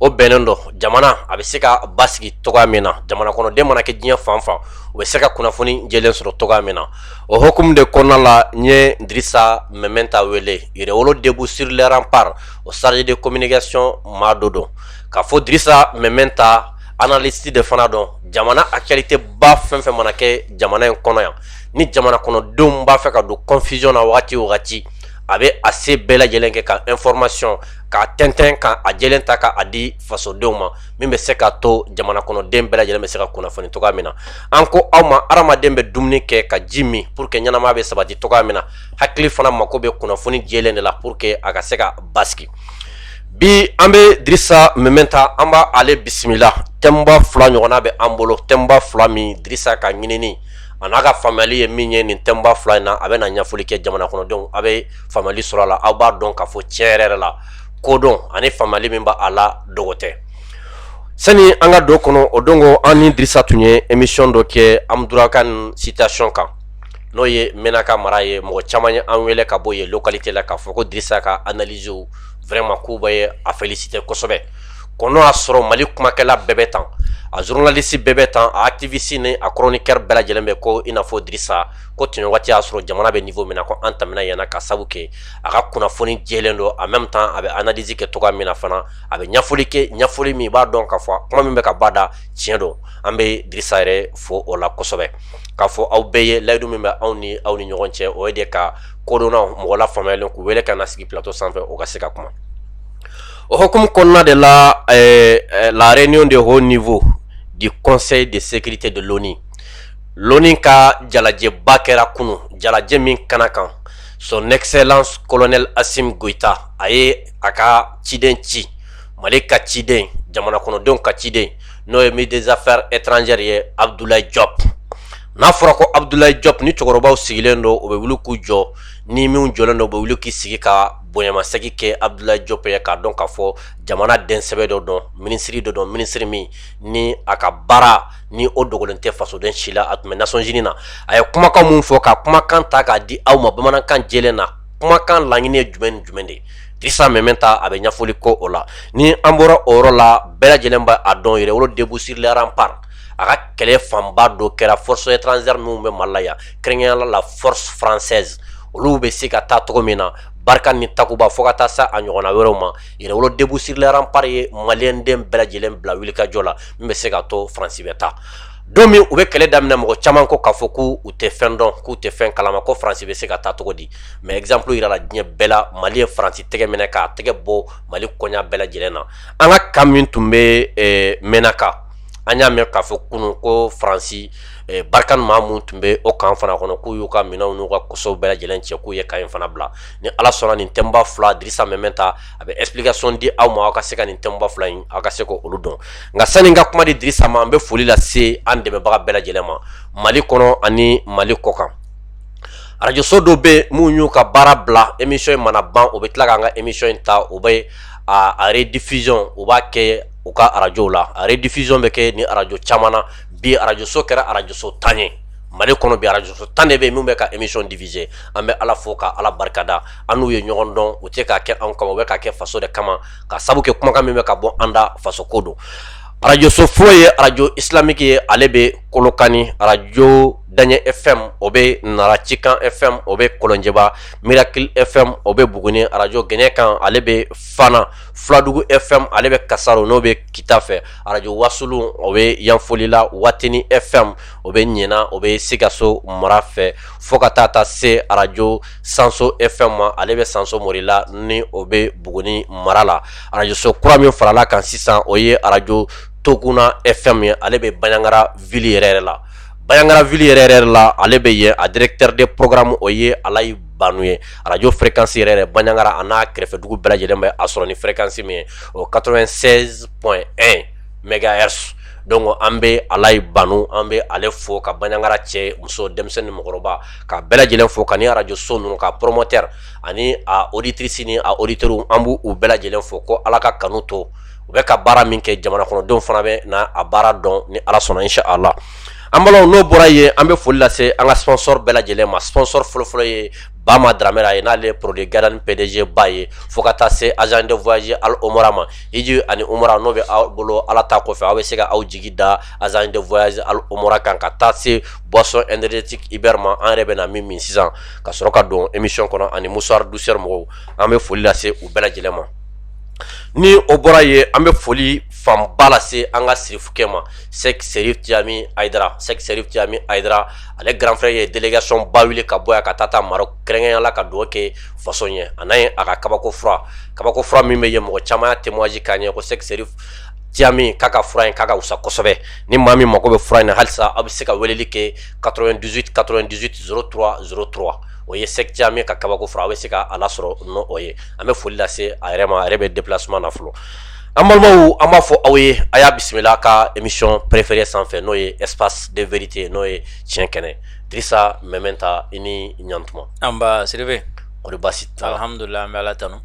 o bɛnnen don jamana a bɛ se ka basigi cogoya min na jamana kɔnɔden mana kɛ diɲɛ fan fan u bɛ se ka kunnafoni jɛlen sɔrɔ cogoya min na o hukumu de kɔnɔna la n ye dirisa meminta wele yɛrɛwolo debout sur les remparts o chargé de communication maa dɔ don k'a fɔ dirisa meminta analyste de fana don jamana actualitéba fɛn fɛn mana kɛ jamana in kɔnɔ yan ni jamana kɔnɔdenw b'a fɛ ka don confusion na wagati wagati a bɛ a se bɛɛ lajɛlen kɛ ka information k'a tɛntɛn ka a jɛlen ta k'a di fasodenw ma min bɛ se k'a to jamana kɔnɔden bɛɛ lajɛlen bɛ se ka kunnafoni cogoya min na an ko aw ma adamaden bɛ dumuni kɛ ka ji min pour que ɲɛnamaya bɛ sabati cogoya min na hakili fana mako bɛ kunnafoni jɛlen de la pour que a ka se ka basigi bi an bɛ dirisa meminta an b'a ale bisimila thèmeba fila ɲɔgɔnna bɛ an bolo thèmeba fila min dirisa ka ɲinini a n'a ka faamuyali ye min ye nin thèmeba fila in na a bɛ na ɲɛfɔli kɛ jamana kɔnɔdenw a bɛ faamuyali sɔrɔ a la aw b'a dɔn k'a fɔ tiɲɛ yɛrɛ yɛrɛ la kodɔn ani faamuyali min b' a la dogo tɛ sani an ka don kɔnɔ o don ko an ni dirisa tun ye emisiyɔn dɔ kɛ anderamboukane situation kan n'o ye menaka mara ye mɔgɔ caman ye an wele ka bɔ yen localité la k'a fɔ ko dirisa ka analysew vraiment k'u bɛɛ ye a féliciter kosɛbɛ ko n'o y'a sɔrɔ mali kumakɛla bɛɛ bɛ tan a journaliste bɛɛ bɛ tan a activiste ni a chroniqueur bɛɛ lajɛlen bɛ ko i n'a fɔ dirisa ko tun waati y'a sɔrɔ jamana bɛ niveau min na ko an tɛmɛna yen na ka sabu kɛ a ka kunnafoni jɛlen don en même temps a bɛ analyse kɛ cogoya min na fana a bɛ ɲɛfɔli kɛ ɲɛfɔli min i b'a dɔn k'a fɔ kuma min bɛ ka bɔ a da tiɲɛ don an bɛ dirisa yɛrɛ fo o la kosɛbɛ k'a fo aw bɛɛ ye layidu min bɛ an ni aw ni ɲɔgɔn cɛ o ye de ka kodɔnna mɔgɔ lafaamuyalen k'u wele ka na sigi plateau sanfɛ o ka se ka kuma o hukumu kɔnɔna de la la réunion de haut niveau du conseil de sécurité de l'ONU L'ONU ka jalajɛba kɛra kunun jalajɛ min kɛnɛ kan son excellence colonel assimi goïta a ye a ka ciden ci mali ka ciden jamana kɔnɔdenw ka ciden n'o ye ministre des affaires étrangères ye abdoulaye diop n'a fɔra ko abdoulaye diop ni cɛkɔrɔbaw sigilen don o bɛ wuli k'u jɔ ni minw jɔlen don bɛ wuli k'i sigi ka bonyamasegin kɛ abdoulaye diop ye k'a dɔn k'a fɔ jamana den sɛbɛ dɔ don minisiri dɔ don minisiri min ni a ka baara ni o dogolen tɛ fasoden si la a tun bɛ nations unies na a ye kumakan min fɔ ka kumakan ta k'a di aw ma bamanankan jɛlen na kumakan laɲini ye jumɛn ni jumɛn de ye dirisa meminta a bɛ ɲɛfɔli kɛ o la ni an bɔra o yɔrɔ la bɛɛ lajɛlen b' a dɔn yɛrɛwolo debout sur les remparts a ka kɛlɛ fanba dɔ kɛra forces étrangères minnu bɛ mali la yan kɛrɛnkɛrɛnnenya la force française olu bɛ se ka taa cogo min na barkhane ni takuba fo ka taa se a ɲɔgɔnna wɛrɛw ma yɛrɛwolo debout sur les remparts ye maliyɛnden bɛɛ lajɛlen bila wulikajɔ la min bɛ se ka to faransi bɛ taa don min u bɛ kɛlɛ daminɛ mɔgɔ caman ko k'a fɔ ko u tɛ fɛn dɔn k'u tɛ fɛn kalama ko faransi bɛ se ka taa cogo di mais exemple yirala diɲɛ bɛɛ la mali ye faransi tɛgɛ minɛ k'a tɛgɛ bɔ mali koɲa bɛɛ lajɛlen na an ka kan min tun bɛ eh, menaka an y'a mɛn k'a fɔ kunu ko faransi eh, barikan maa mun tun bɛ o kan fana kɔnɔ k'u y'u ka minɛnw n'u ka kosow bɛɛ lajɛlen cɛ k'u ye kan in fana bila ni ala sɔnna nin thème ba fila dirisa mementa a bɛ explication di aw ma aw ka se ka nin thème ba fila in aw ka se ka olu dɔn nka sani n ka kuma di dirisa ma an bɛ foli lase an dɛmɛbaga bɛɛ lajɛlen ma mali kɔnɔ ani mali kɔkan arajoso dɔ bɛ minnu y'u ka baara bila émission in mana ban o bɛ tila k'an ka émission in ta o bɛ a rediffusion u b'a kɛ u ka arajo la a rediffusion bɛ kɛ ni arajo caman na bi arajoso kɛra arajoso tan ye mali kɔnɔ bi arajoso tan de bɛ min bɛ ka émission diffuser an bɛ ala fo ka ala barikada an n'u ye ɲɔgɔn dɔn u tɛ k'a kɛ anw kama u bɛ k'a kɛ faso de kama ka sabu kɛ kumakan min bɛ ka bɔ an da faso ko don arajoso fɔlɔ ye arajo islamiki ye ale bɛ kolokani arajo daɲɛ fm o bɛ nara cikan fm o bɛ kɔlɔnjɛba mirakil fm o bɛ buguni arajo gɛnɛkan ale bɛ fana filadugu fm ale bɛ kasaro n'o bɛ kita fɛ arajo wasulu o bɛ yanfolila watini fm o bɛ ɲɛna o bɛ sikaso mara fɛ fo ka taa ta se arajo sanso fm ma ale bɛ sanso morila ni o bɛ buguni mara la arajoso kura min farala kan sisan o ye arajo toguna fm ye ale bɛ banyangara vili yɛrɛ yɛrɛ la banyangara vili yɛrɛ yɛrɛ la ale bɛ yen a directeur de programme o ye alayi banu ye arajo fréquence yɛrɛ yɛrɛ banyangara a n'a kɛrɛfɛ dugu bɛɛ lajɛlen bɛ a sɔrɔ ni fréquence min ye o 96.1 megahertz donc an bɛ alayi banu an bɛ ale fo ka banyangara cɛ muso denmisɛnnin mɔgɔkɔrɔba ka bɛɛ lajɛlen fo ka ni arajoso ninnu ka promoteur ani a auditrice ni a auditeur an b'u bɛɛ lajɛlen fo ko ala ka kanu to u bɛ ka baara min kɛ jamana kɔnɔdenw fana bɛna a baara dɔn ni ala sɔnna inshallah an bala n'o bɔra yen an bɛ foli lase an ka sponsor bɛɛ lajɛlen ma sponsor fɔlɔfɔlɔ ye bama dramera ye n'ale produit garden pdg ba ye fo ka taa se agence de voyage al omra ma hiji ani umra n'o bɛ aw bolo ala ta kɔfɛ aw bɛ se ka aw jigi da agence de voyage al omra kan ka taa se boisson énergétique iber ma an yɛrɛ bɛ na min min sisan ka sɔrɔ ka don émission kɔnɔ ani mouchoir douceur mɔgɔw an bɛ foli lase u bɛɛ lajɛlen ma ni o bɔra yen an bɛ foli fanba lase an ka sirifukɛ ma sɛk serif cami ayidara sɛk serif cami ayidara ale grand frère ye délégation ba wili ka bɔ yan ka taa taa maroc kɛrɛnkɛrɛnya la ka dugawu kɛ faso ye a n'a ye a ka kabako fura kabako fura min bɛ yen mɔgɔ caman y'a témoignage k'a ɲɛ ko sɛk serif Cami k'a ka fura in k'a ka wusa kosɛbɛ ni maa min mago bɛ fura in na halisa aw bɛ se ka weleli kɛ 98 98 03 03 o ye Sɛk Cami ka kabako fura aw bɛ se ka a lasɔrɔ n'o o ye an bɛ foli lase a yɛrɛ ma a yɛrɛ bɛ déplacement na fɔlɔ an balimaw an b'a fɔ aw ye a y'a bisimila ka émission préférée sanfɛ n'o ye espace de vérité n'o ye tiɲɛ kɛnɛ Dirisa Mɛmɛnta i ni ɲantuma nba Sidibe kɔri baasi t'a la alhamdulila an bɛ Ala tanu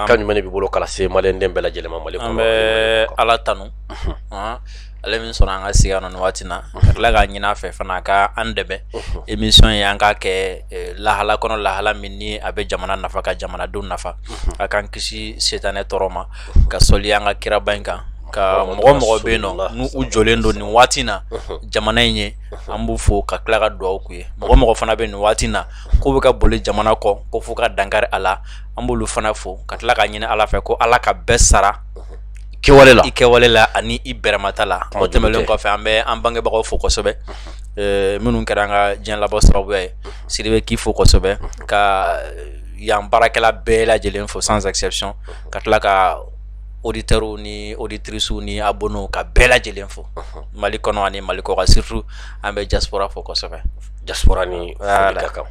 kan jumɛn b'i bolo k'a lase maliden bɛɛ lajɛlen ma an bɛ ala tanu ale min sɔnna an ka sigi nɔ nin waati na ka tila k'a ɲini a fɛ fana a ka an dɛmɛ émission in an k'a kɛ lahala kɔnɔ lahala min ni a bɛ jamana nafa ka jamanadenw nafa a k'an kisi sitanɛ tɔɔrɔ ma ka sɔli an ka kiraba in kan ka mɔgɔ mɔgɔ bɛ yen nɔ n'u jɔlen don nin waati na jamana in ye an b'u fo ka tila ka dugawu k'u ye mɔgɔ mɔgɔ fana bɛ nin waati na k'u bɛ ka boli jamana kɔ ko fo ka dankari a la an b'olu fana fo ka tila ka ɲini ala fɛ ko ala ka bɛɛ sara kɛwale la i kɛwale la ani i bɛrɛmata la o tɛmɛlen kɔfɛ an bɛ an bangebagaw fo kosɛbɛ minnu kɛra an ka diɲɛ labɔ sababuya ye Sidibe k'i fo kosɛbɛ ka yan baarakɛla bɛɛ lajɛlen fo sans exception ka tila ka auditeurs ni auditrices ni abonnés ka bɛɛ lajɛlen fo mali kɔnɔ ani mali kɔkan surtout an bɛ diaspora fo kosɛbɛ diaspora ni foli ka kan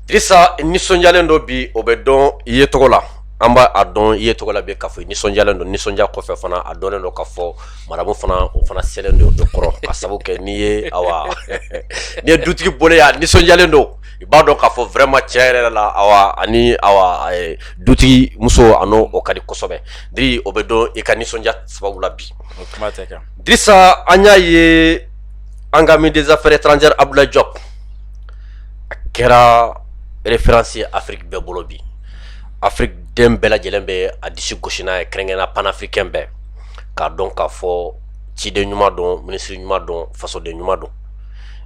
Dirisa i nisɔndiyalen don bi o bɛ dɔn i yecogo la an b'a dɔn i yecogo la bi k'a fɔ i nisɔndiyalen don nisɔndiya kɔfɛ fana a dɔnnen don k'a fɔ madamu fana o fana selen don o kɔrɔ ka sabu kɛ n'i ye awa n'i ye dutigi bɔlen ye a nisɔndiyalen don i b'a dɔn k'a fɔ vraiment tiɲɛ yɛrɛ la awa ani awa dutigi muso a ni o ka di kosɛbɛ Diri o bɛ dɔn i ka nisɔndiya sababu la bi Dirisa an y'a ye an ka ministre des affaires étrangères Abdoulaye Diop a kɛra référence ye Afrique bɛɛ bolo bi Afrique den bɛɛ lajɛlen bɛ a disi gosi n'a ye kɛrɛnkɛrɛnnenya panafricain bɛɛ k'a dɔn k'a fɔ ciden ɲuman don minisiri ɲuman don fasoden ɲuman don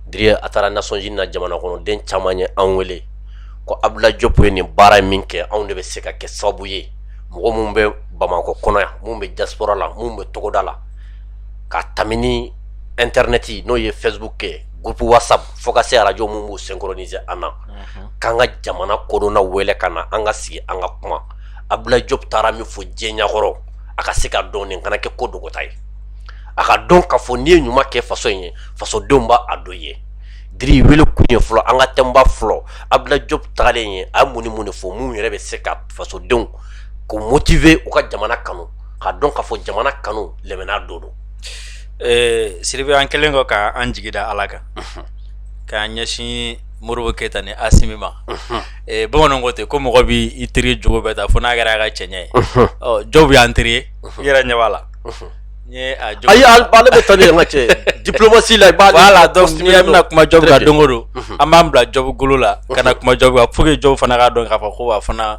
Diri a taara Nations Unies na jamana kɔnɔden caman ye an wele ko Abdoulaye Diop ye nin baara in min kɛ anw de bɛ se ka kɛ sababu ye mɔgɔ minnu bɛ Bamakɔ kɔnɔ yan minnu bɛ diaspora la minnu bɛ togoda la ka tɛmɛ ni internet n'o ye Facebook kɛ groupe WhatsApp fo ka se arajo minnu b'u synchroniser an na k'an ka jamana kodɔnna wele ka na an ka sigi an ka kuma Abdoulaye Diop taara min fɔ diɲɛ ɲakɔrɔ a ka se ka dɔn nin kana kɛ ko dogota ye a ka dɔn k'a fɔ n'i ye ɲuman kɛ faso in ye fasodenw b'a dɔn o ye Diri wele kun ye fɔlɔ an ka thème ba fɔlɔ Abdoulaye Diop tagalen ye a mun ni mun de fɔ minnu yɛrɛ bɛ se ka fasodenw k'u motiver u ka jamana kanu k'a dɔn k'a fɔ jamana kanu lɛmɛnɛna don don Sidibe an kɛlen kɔ ka an jigi da ala kan k'an ɲɛsin Modibo keyita ni Asimi ma bamananw ko ten ko mɔgɔ bɛ i teri jogo bɛɛ ta fo n'a kɛra a ka cɛɲɛ ye Diop y'an teri ye i yɛrɛ ɲɛ la bɛ taa ka cɛ diplomatie la voilà bɛna kuma Diop kan don o don an b'an bila Diop golo la ka na kuma Diop kan pour que Diop fana k'a dɔn k'a fɔ ko fana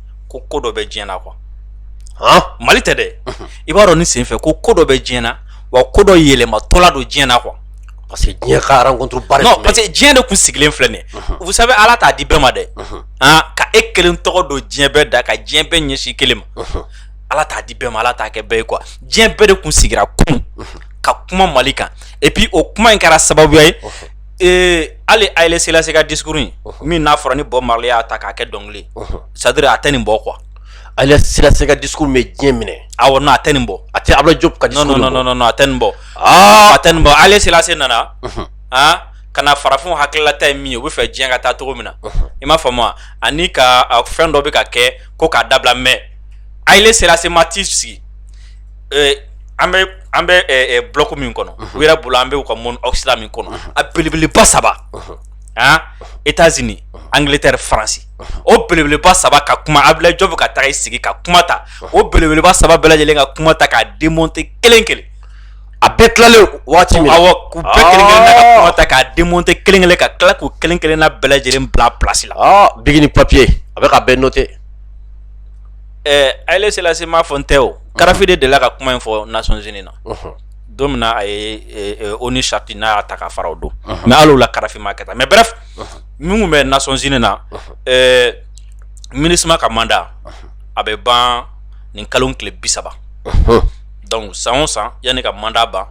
ko ko dɔ bɛ diɲɛ na quoi mali tɛ dɛ i b'a dɔn nin sen fɛ ko ko dɔ bɛ diɲɛ na wa ko dɔ yɛlɛmatɔla don diɲɛ na quoi parce que diɲɛ parce que diɲɛ de kun sigilen filɛ nin vous savez ala t'a di bɛɛ ma dɛ ka e kelen tɔgɔ don diɲɛ bɛɛ da ka diɲɛ bɛɛ ɲɛsin kelen ma ala t'a di bɛɛ ma ala t'a kɛ bɛɛ ye quoi diɲɛ bɛɛ de kun sigira kun ka kuma mali kan et puis o kuma in kɛra sababuya ye Ee Haile Selassie ka discours min n'a fɔra ni Bob Marley y'a ta k'a kɛ dɔnkili c'est-à-dire a tɛ nin bɔ quoi Haile Selassie ka discours bɛ diɲɛ minɛ awɔ non a tɛ nin bɔ a tɛ Abdoulaye Diop ka a tɛ nin bɔ a tɛ nin bɔ Haile Selassie nana aa ka na farafinw hakililata ye min ye u bɛ fɛ diɲɛ ka taa cogo min na i m'a faamu ani ka fɛn dɔ bɛ ka kɛ ko k'a dabila mais Haile Selassie ma t'i sigi an bɛ an bɛ bloc min kɔnɔ u yɛrɛ bolo an bɛ u ka monde occident min kɔnɔ a belebeleba saba aa États-Unis Angleterre faransi o belebeleba saba ka kuma Abdoulaye Diop ka taa i sigi ka kuma ta o belebeleba saba bɛɛ lajɛlen ka kuma ta k'a démonter kelen kelen a bɛɛ tilalen waati u bɛɛ kelen kelen ka kuma ta k'a démonter kelen kelen ka tila k'u kelen kelen na bɛɛ lajɛlen bila place la biki ni papiye a bɛ ka bɛɛ noter ɛɛ Haile Selassie m'a fɔ n tɛ o, Karafi de delila ka kuma in fɔ Nations Unies na, unhun, don min na a ye ONU Charte n'a y'a ta k'a fara o don, unhun, mais hali o la Karafi m'a kɛ tan mais bref min tun bɛ Nations Unies na, unhun, ɛɛ Minusma ka mandat a bɛ ban nin kalo in tile bi saba, unhun, donc san o san yanni ka mandat ban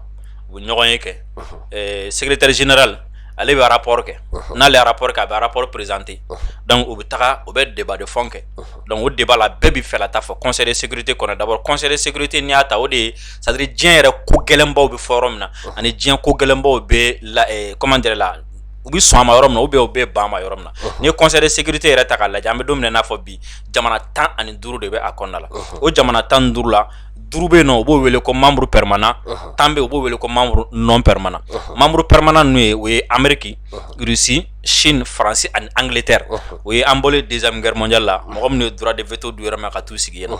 u bɛ ɲɔgɔn ye kɛ, unhun, ɛɛ secretaire général ale bɛ arap kɛ n'ale arap kɛ a bɛ arap perezte dɔnku u bɛ taga u bɛ deba de fɛn kɛ dɔnku o deba la bɛɛ bɛ fɛ ta fɔ kɔnɛ sete kɔnɔ dabɔ kɔnɛ sete ni y'a ta o de ye sari diɲɛ yɛrɛ ko gɛlɛnbaw bɛ fɔ min na ani diɲɛ ko gɛlɛnbaw bɛ kɔman de la u bɛ sɔn ma yɔrɔ min u bɛ u bɛ ban ma yɔrɔ min na ni ye kɔnɛ sete yɛrɛ ta ka lajɛ an bɛ don n'a fɔ bi jamana tan ani duuru de bɛ a kɔnɔnada la o jamana tan duuru la duuru bɛ yen nɔ u b'o wele ko membre permanent tan bɛ yen u b'o wele ko membre non permanent membre permanent ninnu ye o ye ameriki rusi sini faransi ani Angleterre o ye an bɔlen deuxième guerre mondiale la mɔgɔ minnu ye droit de veto d'u yɛrɛ ma ka t'u sigi yen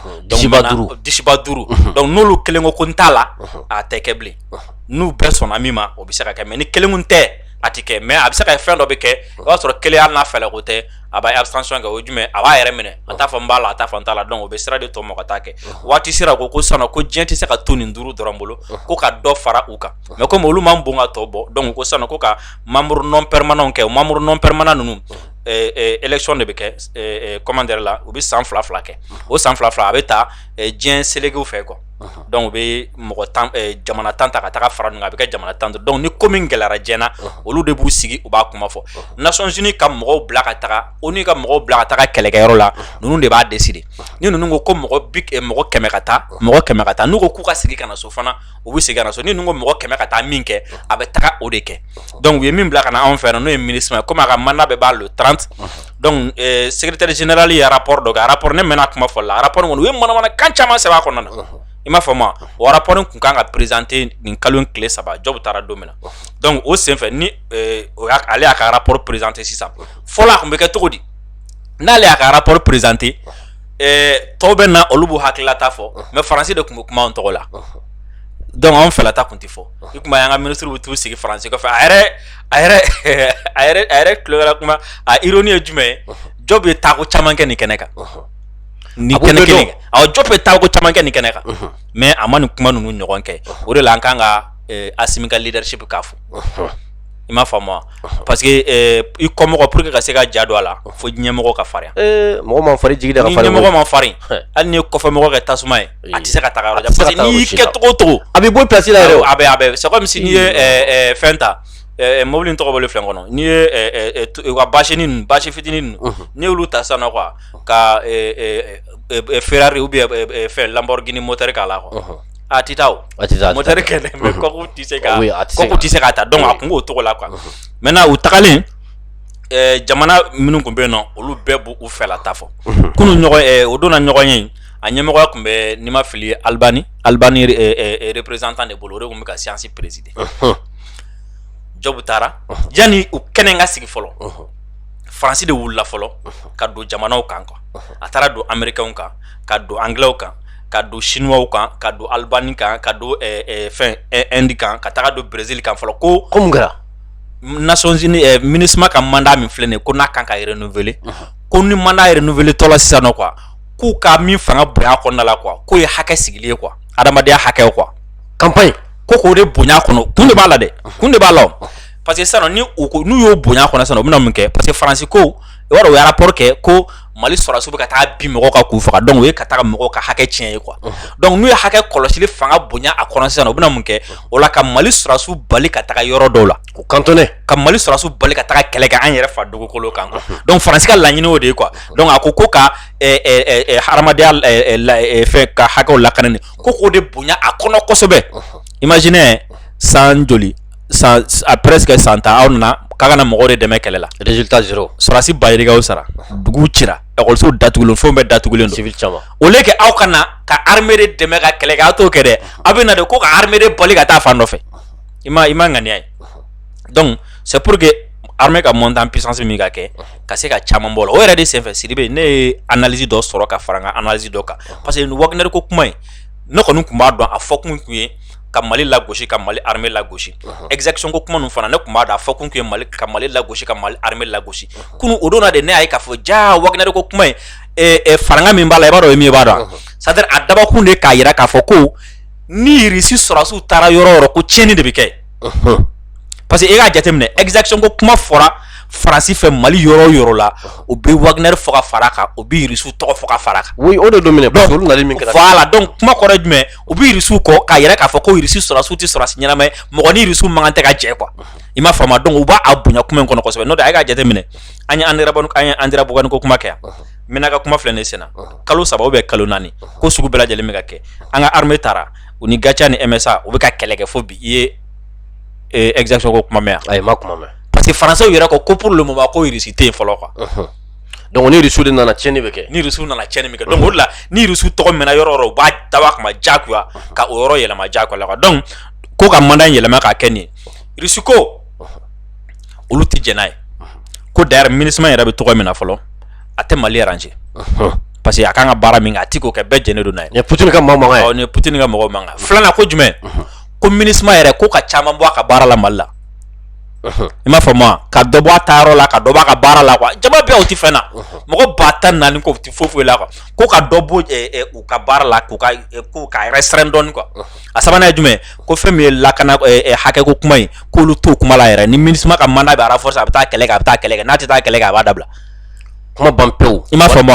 disiba duuru donc n'olu kelen ko ko n t'a la a tɛ kɛ bilen n'u bɛɛ sɔnna min ma o bɛ se ka kɛ mais ni kelen ko n tɛ a tɛ kɛ mais a bɛ se ka kɛ fɛn dɔ bɛ kɛ o b'a sɔrɔ kelen n'a fɛ o tɛ a b'a abstention kɛ o ye jumɛn ye a b'a yɛrɛ minɛ a t'a fɔ n b'a la a t'a fɔ n t'a la donc o bɛ sira di tɔw ma ka taa kɛ waati sera ko ko sisan ko diɲɛ tɛ se ka to nin duuru dɔrɔn bolo ko ka dɔ fara u kan mais comme olu man bon ka tɔ bɔ donc ko sisan ko ka membre non permanent kɛ o membre non permanent ninnu élection de bɛ kɛ comment dirais la u bɛ san fila fila kɛ o san fila fila a bɛ ta diɲɛ selekew fɛ quoi donc u bɛ mɔgɔ jamana tan ta ka taa fara a bɛ kɛ jamana tan donc ni ko min gɛlɛyara diɲɛ na olu de b'u sigi u b'a kuma fɔ Nations Unies ka mɔgɔw bila ka taga ONU ka mɔgɔw bila ka taga kɛlɛkɛyɔrɔ la ninnu de b'a décider ni ninnu ko ko mɔgɔ mɔgɔ kɛmɛ ka taa mɔgɔ kɛmɛ ka taa n'u k'u ka segin ka na so fana u bɛ segin so ni ninnu ko mɔgɔ kɛmɛ ka taa min kɛ a bɛ taga o de kɛ donc u ye min bila ka na anw fɛ yan n'o ye MINUSMA ye comme a ka mandat bɛ ban le trente donc secrétaire général ye rapport dɔ kɛ rapport ne mɛnna kuma fɔ la rapport kɔnɔ u ye manamanakan caman sɛbɛn a kɔnɔna na i m'a faamu o rapport tun ka kan ka présenter nin kalo tile saba Diop taara don min na donc o senfɛ ni ale y'a ka rapport présenter sisan fɔlɔ a tun bɛ kɛ cogo di n'ale y'a ka rapport présenter tɔw bɛ na olu b'u hakililata fɔ mais faransi de tun bɛ kuma an tɔgɔ la donc an fɛla ta tun tɛ fɔ i tun b'a ye an ka minisiriw bɛ taa sigi faransi kɔfɛ a yɛrɛ a yɛrɛ a yɛrɛ a yɛrɛ tulokɛla kuma a ironie ye jumɛn ye Diop ye taako caman kɛ nin kɛnɛ kan ni kɛnɛ kelen awɔ Diop ye taako caman kɛ nin kɛnɛ kan mais a ma nin kuma ninnu ɲɔgɔn kɛ o de la an kan ka Assimi ka leadership k'a fɔ i m'a faamu parce que i kɔmɔgɔ pour que ka se ka ja don a la fo ɲɛmɔgɔ ka farinya mɔgɔ man farin jigi da ni ɲɛmɔgɔ man farin hali n'i ye kɔfɛmɔgɔ kɛ tasuma ye a tɛ se ka taga yɔrɔ jan parce que n'i y'i kɛ cogo o cogo a bɛ bɔ place la yɛrɛ a bɛ a bɛ c'est comme si n'i ye fɛn ta mobili in tɔgɔ bɔlen filɛ n kɔnɔ n'i ye u ka basini ninnu basi fitinin ninnu mhm. n'i y'olu ta sisan nɔ quoi ka Ferrari ou bien fɛn Lamborghini moteur k'a la quoi mhm. a tɛ taa o a tɛ taa moteur kɛnɛ mais mhm. coque tɛ se ka coque tɛ se k'a ta donc a kun b'o cogo la quoi maintenant u tagalen jamana minnu tun bɛ yen nɔ olu bɛɛ b'u fɛla ta fɔ kunu ɲɔgɔn o don na ɲɔgɔnye a ɲɛmɔgɔya tun bɛ ni n ma fili Albanie Albanie représentant de bolo o de tun bɛ ka séance présider Diop taara yanni u kɛnɛ ka sigi fɔlɔ faransi de wulila fɔlɔ ka don jamanaw kan quoi a taara don Américains kan ka don Anglais kan ka don Chinois kan ka don Albanie kan ka don fɛn Inde kan ka taga don Brésil kan fɔlɔ ko ko mun kɛra Nations Unies MINUSMA ka mandat min filɛ nin ko n'a kan ka renouveler ko ni mandat renouveler tɔ la sisan nɔ quoi k'u ka min fanga bonya kɔnɔna la quoi k'o ye hakɛ sigilen ye quoi adamadenya hakɛ quoi campagne ko k'o de bonya kɔnɔ kun de b'a la dɛ kun de b'a la parce que sisan ni ko n'u y'o bonya kɔnɔ sisan u bɛna mun kɛ parce que faransi ko u ye rapport kɛ ko mali sɔrɔsiw bɛ ka taa bin mɔgɔw kan k'u faga donc o ye ka taa mɔgɔw ka hakɛ tiɲɛ ye quoi donc n'u ye hakɛ kɔlɔsili fanga bonya a kɔnɔ sisan u bɛna mun kɛ o la ka mali sɔrɔsiw bali ka taga yɔrɔ dɔw la O cantonner ka mali sɔrɔsiw bali ka taa kɛlɛ kɛ an yɛrɛ fa dugukolo kan donc Faransi ka laɲini o de ye quoi donc a ko ko ka hadamadenya fɛn ka hakɛ lakana ko k'o de bonya a kɔnɔ kosɛbɛ imaginez san joli a presque san tan aw nana k'aw ka na mɔgɔ de dɛmɛ kɛlɛ la sɔrɔsi ba yirikaw sara dugu cira lakɔlisow datugulen fɛn bɛɛ datugulen au lieu que aw ka na ka armée de dɛmɛ ka kɛlɛ kɛ aw t'o kɛ dɛ aw bɛ na de ko ka armée de bali ka taa fan dɔ fɛ i ma i ma ŋaniya ye donc c'est pour que armée ka monter en puissance min ka kɛ ka se ka caman bɔ o la o yɛrɛ de senfɛ Sidibe ne ye analyse dɔ sɔrɔ ka fara n ka analyse dɔ kan parce que nin Wagner ko kuma in ne kɔni tun b'a dɔn a fɔkun tun ye ka Mali lagosi ka Mali armée lagosi exaction ko kuma ninnu fana ne tun b'a dɔn a fɔkun tun ye Mali ka Mali lagosi ka Mali armée lagosi kunu o don na de ne y'a ye k'a fɔ jaa Wagner ko kuma in faranga min b'a la i b'a dɔn o ye min ye i b'a dɔn wa c'est à dire a dabɔkun de ye k'a jira k'a fɔ ko ni Irisi sɔrɔsiw taara yɔrɔ o yɔrɔ ko tiɲɛni de bɛ kɛ parce que e k'a jateminɛ exaction ko kuma fɔra Faransi fɛ Mali yɔrɔ o yɔrɔ la u bɛ Wagner fɔ ka fara a kan u bɛ Irisiw tɔgɔ fɔ ka fara a kan o de don voilà donc kuma kɔrɔ ye jumɛn u bɛ Irisiw kɔ k'a yira k'a fɔ ko Irisi sɔrɔsiw tɛ sɔrɔsi ɲɛnama ye mɔgɔ ni Irisiw man kan tɛ ka jɛ quoi i m'a faamu donc u b'a bonya kuma in kɔnɔ kosɛbɛ n'o tɛ a ye k'a jateminɛ an ye Andéramboukane ko kuma kɛ yan n bɛna ka kuma filɛ ne sen na kalo saba ou bien kalo naani ko sugu bɛɛ lajɛlen bɛ ka kɛ an ka armée taara u ni GATIA ni MSA u bɛ ka kɛlɛ kɛ fo bi i ye exaction ko kuma mɛn wa i ma kuma mɛn parce que Français yɛrɛ ko ko pour le moment ko Irisi tɛ yen fɔlɔ quoi donc ni Irisi de nana tiɲɛni bɛ kɛ ni Irisi nana tiɲɛni min kɛ donc o la ni Irisi tɔgɔ mɛnna yɔrɔ o yɔrɔ u b'a dabɔ kama jagoya ka o yɔrɔ yɛlɛma jagoya la donc ko ka mandat yɛlɛma k'a kɛ nin ye Irisi ko olu tɛ jɛn n'a ye ko d'ailleurs MINUSMA yɛrɛ bɛ cogo min na fɔlɔ a tɛ Mali arranger parce que a ka kan ka baara min kɛ a tɛ k'o kɛ bɛɛ jɛnnen don n'a ye Poutine ka mɔgɔ ye Poutine ka mɔgɔ mankan filanan ko jumɛn ko MINUSMA yɛrɛ ko ka caman bɔ a ka baara la Mali la i m'a faamu wa ka dɔ bɔ a taayɔrɔ la ka dɔ b'a ka baara la quoi jama bɛɛ u tɛ fɛn na mɔgɔ ba tan naani k'o tɛ foyi foyi la quoi ko ka dɔ bɔ u ka baara la k'u ka restreindre dɔɔni quoi a sabanan ye jumɛn ko fɛn min ye lakana hakɛko kuma ye k'olu to kuma la yɛrɛ ni minisuma ka mandat bɛ renforcer a bɛ taa kɛlɛ a bɛ taa kɛlɛ kɛ n'a tɛ taa kɛlɛ kɛ a b'a dabila kuma ban pewu i m'a faamu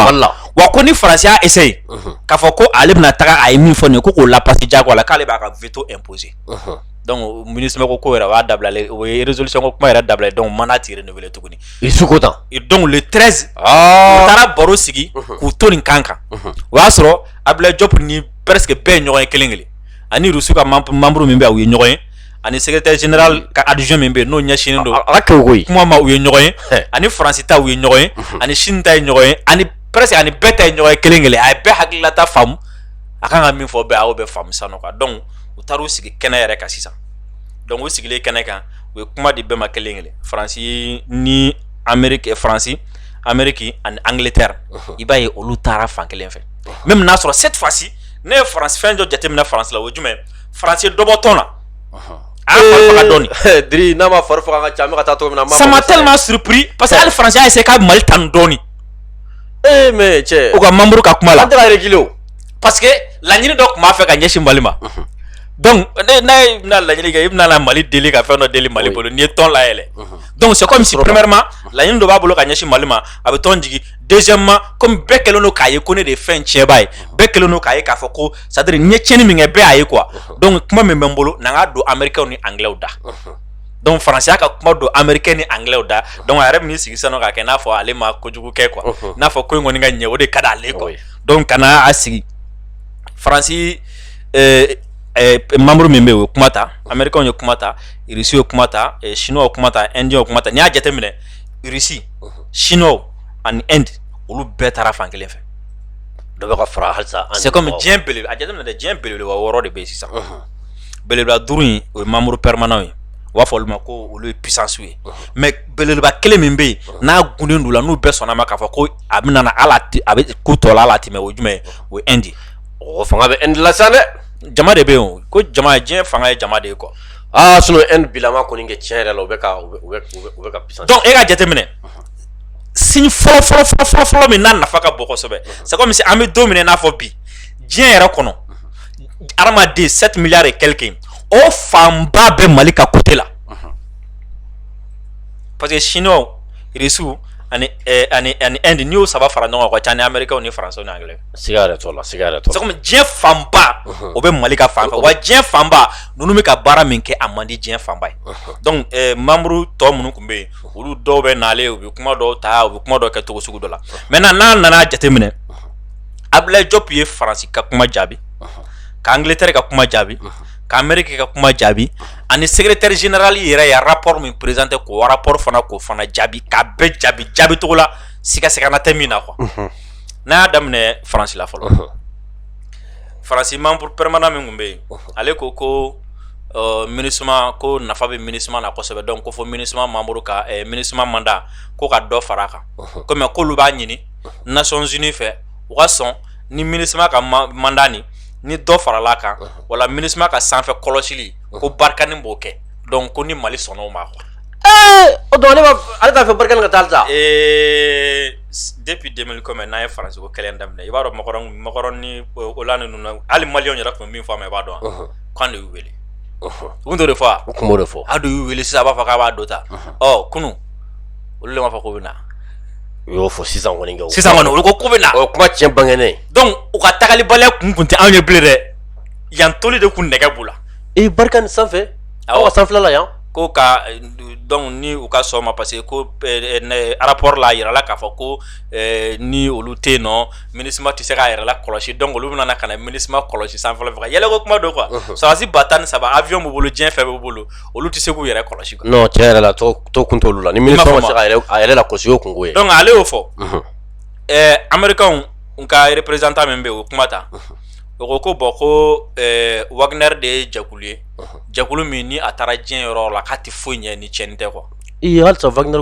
wa ko ni faransi y'a essayer mhm. k'a fɔ ko ale bɛna taga a ye min fɔ nin ye ko k'o lapasi jagoya la k'ale b'a ka veto imposer mhm. donc minisuma ko ko yɛrɛ b'a dabilalen o ye résolution ko kuma yɛrɛ dabilalen donc mandat tɛ renouveler tuguni Irisi ko tan donc le 13 ah. u taara baro sigi mhm. k'u to nin kan kan o y'a sɔrɔ Abdoulaye Diop ni presque bɛɛ ye ɲɔgɔn ye kelen kelen ani Russie ka membre min bɛ u ye ɲɔgɔn ye ani secrétaire général ka adjoint min bɛ yen n'o ɲɛsinnen don ala kuma ma u ye ɲɔgɔn ye ani faransi ta u ye ɲɔgɔn ye ani Chine ta ye ɲɔgɔn ye ani presque ani bɛɛ ta ye ɲɔgɔn ye kelen kelen a ye bɛɛ hakililata faamu a kan ka min fɔ bɛɛ a y'o bɛɛ faamu sisan nɔ donc u taara u sigi kɛnɛ yɛrɛ kan sisan donc u sigilen kɛnɛ kan u ye kuma di bɛɛ ma kelen kelen faransi ni anmeri faransi Amérique ani Angleterre i b'a ye olu taara fan kelen fɛ même n'a sɔrɔ cette fois-ci ne ye faransi fɛn dɔ jateminɛ faransi la o ye jumɛn faransi ye dɔ bɔ tɔn na dɔɔni n'a ma fari faga ka ca ka taa min na ça m'a tellement surpris parce que hali faransi y'a essayé ka mali tanu dɔɔni ee mais cɛ u ka membre ka kuma la kelen parce que laɲini dɔ tun b'a fɛ ka ɲɛsin mali ma donc n'a ye bɛna laɲini kɛ i bɛna mali deli ka fɛn dɔ deli mali bolo n'i ye tɔn layɛlɛ donc c'est comme si premièrement laɲini dɔ b'a bolo ka ɲɛsin mali ma a bɛ tɔn jigin deuxièmement comme bɛɛ kɛlen don k'a ye ko ne de ye fɛn tiɲɛba ye bɛɛ kɛlen don k'a ye k'a fɔ ko c'est-à-dire n ye tiɲɛni min kɛ bɛɛ y'a ye quoi donc kuma min bɛ n bolo na n k'a don amerikɛw ni angilɛw da donc faransi y'a ka kuma don amerikɛw ni angilɛw da donc a yɛrɛ bɛ n'i sigi sisan nɔ k'a kɛ n'a fɔ ale ma kojugu kɛ quoi n'a fɔ ko in kɔni ka ɲɛ o de ka di ale quoi donc ka na a sigi faransi membre min bɛ yen o ye kuma ta amerikɛw ye kuma ta irisiw ye kuma ta siniw ye kuma ta Indiens ye kuma ta n'i y'a jateminɛ irisi Chinois ani Inde olu bɛɛ taara fan kelen fɛ dɔ bɛ ka fara halisa c'est comme diɲɛ bele a jateminɛ dɛ diɲɛ belebeleba wɔɔrɔ de bɛ yen sisan belebeleba duuru in o ye membres permanents ye u b'a fɔ olu ma ko olu ye puissances ye mais belebeleba kelen min bɛ yen n'a gunden don u la n'u bɛɛ sɔnna a ma k'a fɔ ko a bɛ na a bɛ k'u tɔ la latɛmɛ o ye jumɛn ye o ye Inde o fanga bɛ Inde la sisan dɛ jama de bɛ yen ko jama diɲɛ fanga ye jama de ye quoi Aa sinon Inde bilama kɔni kɛ tiɲɛ yɛrɛ la, u bɛ ka u bɛ u bɛ ka puissance donc e ka jateminɛ, unhun, signe fɔlɔ fɔlɔ fɔlɔ fɔlɔ fɔlɔ min n'a nafa ka bon kosɛbɛ, unhun, c'est comme si an bɛ don min na i n'a fɔ bi, diɲɛ yɛrɛ kɔnɔ, unhun, hadamaden 7 milliards et quelques in o fanba bɛ Mali ka côté la, unhun, parce que chinois, russes ani ɛ ani Inde n'i y'o saba fara ɲɔgɔn kan o ka ca ni Américains ni Français ni Anglais siga yɛrɛ t'o la siga yɛrɛ t'o la c'est comme diɲɛ fanba o bɛ Mali ka fan fɛ wa diɲɛ fanba ninnu bɛ ka baara min kɛ a man di diɲɛ fanba ye donc ɛɛ membre tɔ minnu tun bɛ yen olu dɔw bɛ nalen u bɛ kuma dɔw ta u bɛ kuma dɔw kɛ cogo sugu dɔ la maintenant n'a nana a jateminɛ Abdoulaye Diop ye Faransi ka kuma jaabi ka Angleterre ka kuma jaabi ka Amérique ka kuma jaabi ani secrétaire général yɛrɛ ye rapport min présenté k'o rapport fana k'o fana jaabi k'a bɛɛ jaabi jaabi cogo la siga siga na tɛ min na quoi. n'an y'a daminɛ faransi la fɔlɔ faransi membre permanent min tun bɛ yen ale ko ko minusma ko nafa bɛ minusma na kosɛbɛ donc ko fo minusma membre ka minusma mandat ko ka dɔ fara a kan kɔmi k'olu b'a ɲini nations unies fɛ u ka sɔn ni minusma ka mandat nin ni dɔ farala kan wala minusma ka sanfɛ kɔlɔsili ko barkhane b'o kɛ donc ko ni mali sɔnna o ma quoi o donc ale t'a fɛ barkhane ka taa sa depuis deux mille kɔmi n'an ye faransi ko kɛlɛ daminɛ i b'a dɔn macron ni hollande ninnu ali mali yɛrɛ tun bɛ min fɔ an ma i b'a dɔn k'an de y'u wele u tun b'o de fɔ a de y'u wele sisan b'a fɔ k'a b'a dɔ ta ɔ kunun olu de b'a fɔ k'u bɛ na u y'o fɔ sisan sisan kɔni olu ko k'u bɛ na o kuma cɛn bangenen donc u ka tagalibaliya kun tun tɛ anw ye bilen dɛ yan toli de tun nɛgɛ b'u la i barkhane sanfɛ aw ka sanfɛla yan ko ka donc ni u ka sɔn ma parce que ko rapport la a yirala k'a fɔ ko ni olu tɛ yen nɔ minusma tɛ se k'a yɛrɛ lakɔlɔsi donc olu bɛna ka na minusma kɔlɔsi sanfɛla fɛ ka yɛlɛko kuma don quoi sɔrɔdasi ba tan ni saba avion b'u bolo diɲɛ fɛn b'u bolo olu tɛ se k'u yɛrɛ kɔlɔsi non cɛn yɛrɛ la to kun t'olu la ni yɛrɛ lakɔlɔsi o kun ye donc ale y'o fɔ ɛɛ américains ka représentant min bɛ o kuma ta o ko bon ko wagner de ye jɛkulu ye jɛkulu min ni a taara diɲɛ yɔrɔ la k'a tɛ foyi ɲɛ ni cɛnni tɛ quoi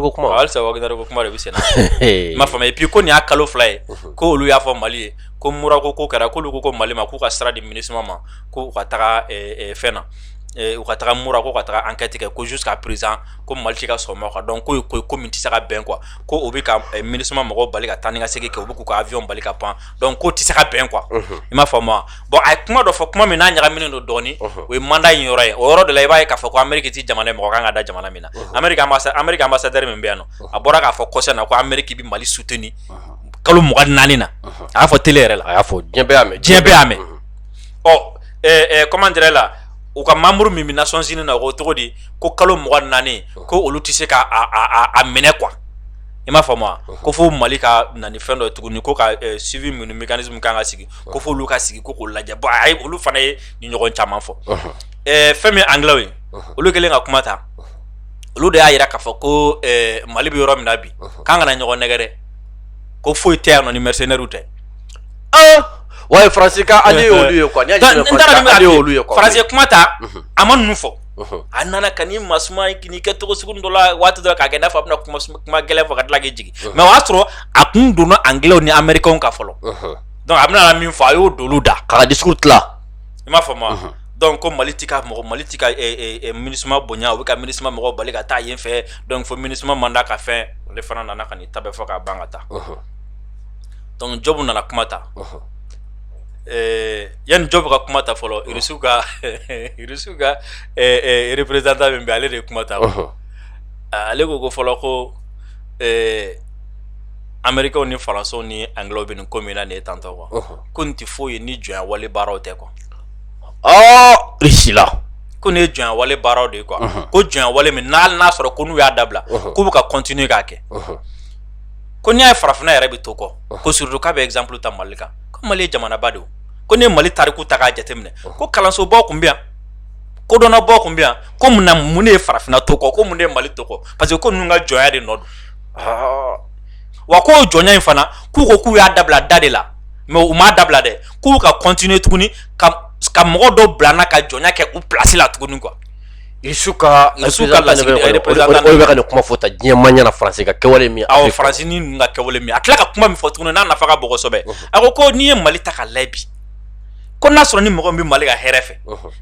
ko kuma halisa wagner ko kuma de bɛ sen na i m'a faamu et puis ko nin y'a kalo fila ye ko olu y'a fɔ mali ye ko mura ko ko kɛra k'olu ko ko mali ma k'u ka sira di minusma ma ko u ka taga fɛn na u ka taga mura ko ka taga enquête kɛ ko jusqu'à présent ko mali tɛ ka sɔn ma quoi donc ko ko min tɛ se ka bɛn quoi ko u bɛ ka minusma mɔgɔ bali ka taa ni ka segin kɛ u bɛ k'u ka avion bali ka pan donc ko tɛ se ka bɛn quoi i m'a faamu bon a ye kuma dɔ fɔ kuma min n'a ɲagaminen don dɔɔnin o ye mandat in yɔrɔ ye o yɔrɔ de la i b'a ye k'a fɔ ko ameriki tɛ jamana ye mɔgɔ kan ka da jamana min na ameriki ambassadeur min bɛ yan a bɔra k'a fɔ kɔsa na ko ameriki bɛ mali soutenir kalo mugan ni naani na a y'a fɔ tele yɛrɛ la a y'a fɔ diɲɛ diɲɛ bɛɛ y'a mɛn ɔ comment dire la u ka membre min bɛ nations unies na o cogo di ko kalo mugan ni naani ko olu tɛ se k'a minɛ quoi i m'a faamu ko fo mali ka na ni fɛn dɔ ye tuguni ko ka suivi minnu mécanisme kan ka sigi ko fo olu ka sigi ko k'o lajɛ bon a ye olu fana ye nin ɲɔgɔn caman fɔ fɛn min anglais ye olu kɛlen ka kuma ta olu de y'a jira k'a fɔ ko mali bɛ yɔrɔ min na bi k'an kana ɲɔgɔn nɛgɛn dɛ ko foyi tɛ yan nɔ ni mercenaires tɛ wa ye faransi kuma ta a ma ninnu fɔ a nana ka ni masuma k'i kɛ cogo sugu dɔ la waati dɔ k'a kɛ i n'a fɔ a bɛna kuma gɛlɛn fɔ ka tila k'i jigin mais o y'a sɔrɔ a kun donna anglais ni américains ka fɔlɔ donc a bɛna min fɔ a y'o d'olu da k'a ka discours tila i m'a faamu donc ko mali mali tɛ ka minusma bonya u bɛ ka minusma mɔgɔw bali ka taa yen fɛ donc fo minusma mandat ka fɛn ale fana nana ka n'i ta bɛɛ fɔ k'a ban ka taa donc diop nana kuma ta yanni diop ka kuma ta fɔlɔ irisi ka représentant min bɛ ale de ye kuma ta ale ko ko fɔlɔ ko américains ni français ni anglais bɛ nin ko min na nin ye tantɔ quoi ko nin tɛ foyi ye ni jɔnya wale baaraw tɛ quoi irisi la ko nin ye jɔnya wale baaraw de ye quoi ko jɔnya wale min n'a n'a sɔrɔ ko n'u y'a dabila k'u bɛ ka continuer k'a kɛ ko n'i y'a ye farafinna yɛrɛ bɛ to kɔ ko surtout k'a bɛ exemple ta mali kan mali ye jamanaba de ye ko n'i ye mali tariku ta k'a jateminɛ ko kalansobaw tun bɛ yan kodɔnnabaw tun bɛ yan ko munna mun de ye farafinna to kɔ ko mun de ye mali to kɔ parce que ko ninnu ka jɔnya de nɔ don wa ko jɔnya in fana k'u ko k'u y'a dabila da de la mais u m'a dabila dɛ k'u ka continuer tuguni ka mɔgɔ dɔ bila an na ka jɔnya kɛ u place la tuguni quoi Irisi ka représentant bɛ ka kuma fɔ ta diɲɛ ma ɲɛna faransi ka kɛwale min awɔ faransi ka kɛwale min a tila ka kuma min fɔ tuguni n'a nafa ka bon kosɛbɛ a ko ko n'i ye mali ta k'a lajɛ bi ko n'a sɔrɔ ni mɔgɔ bɛ mali ka hɛrɛ fɛ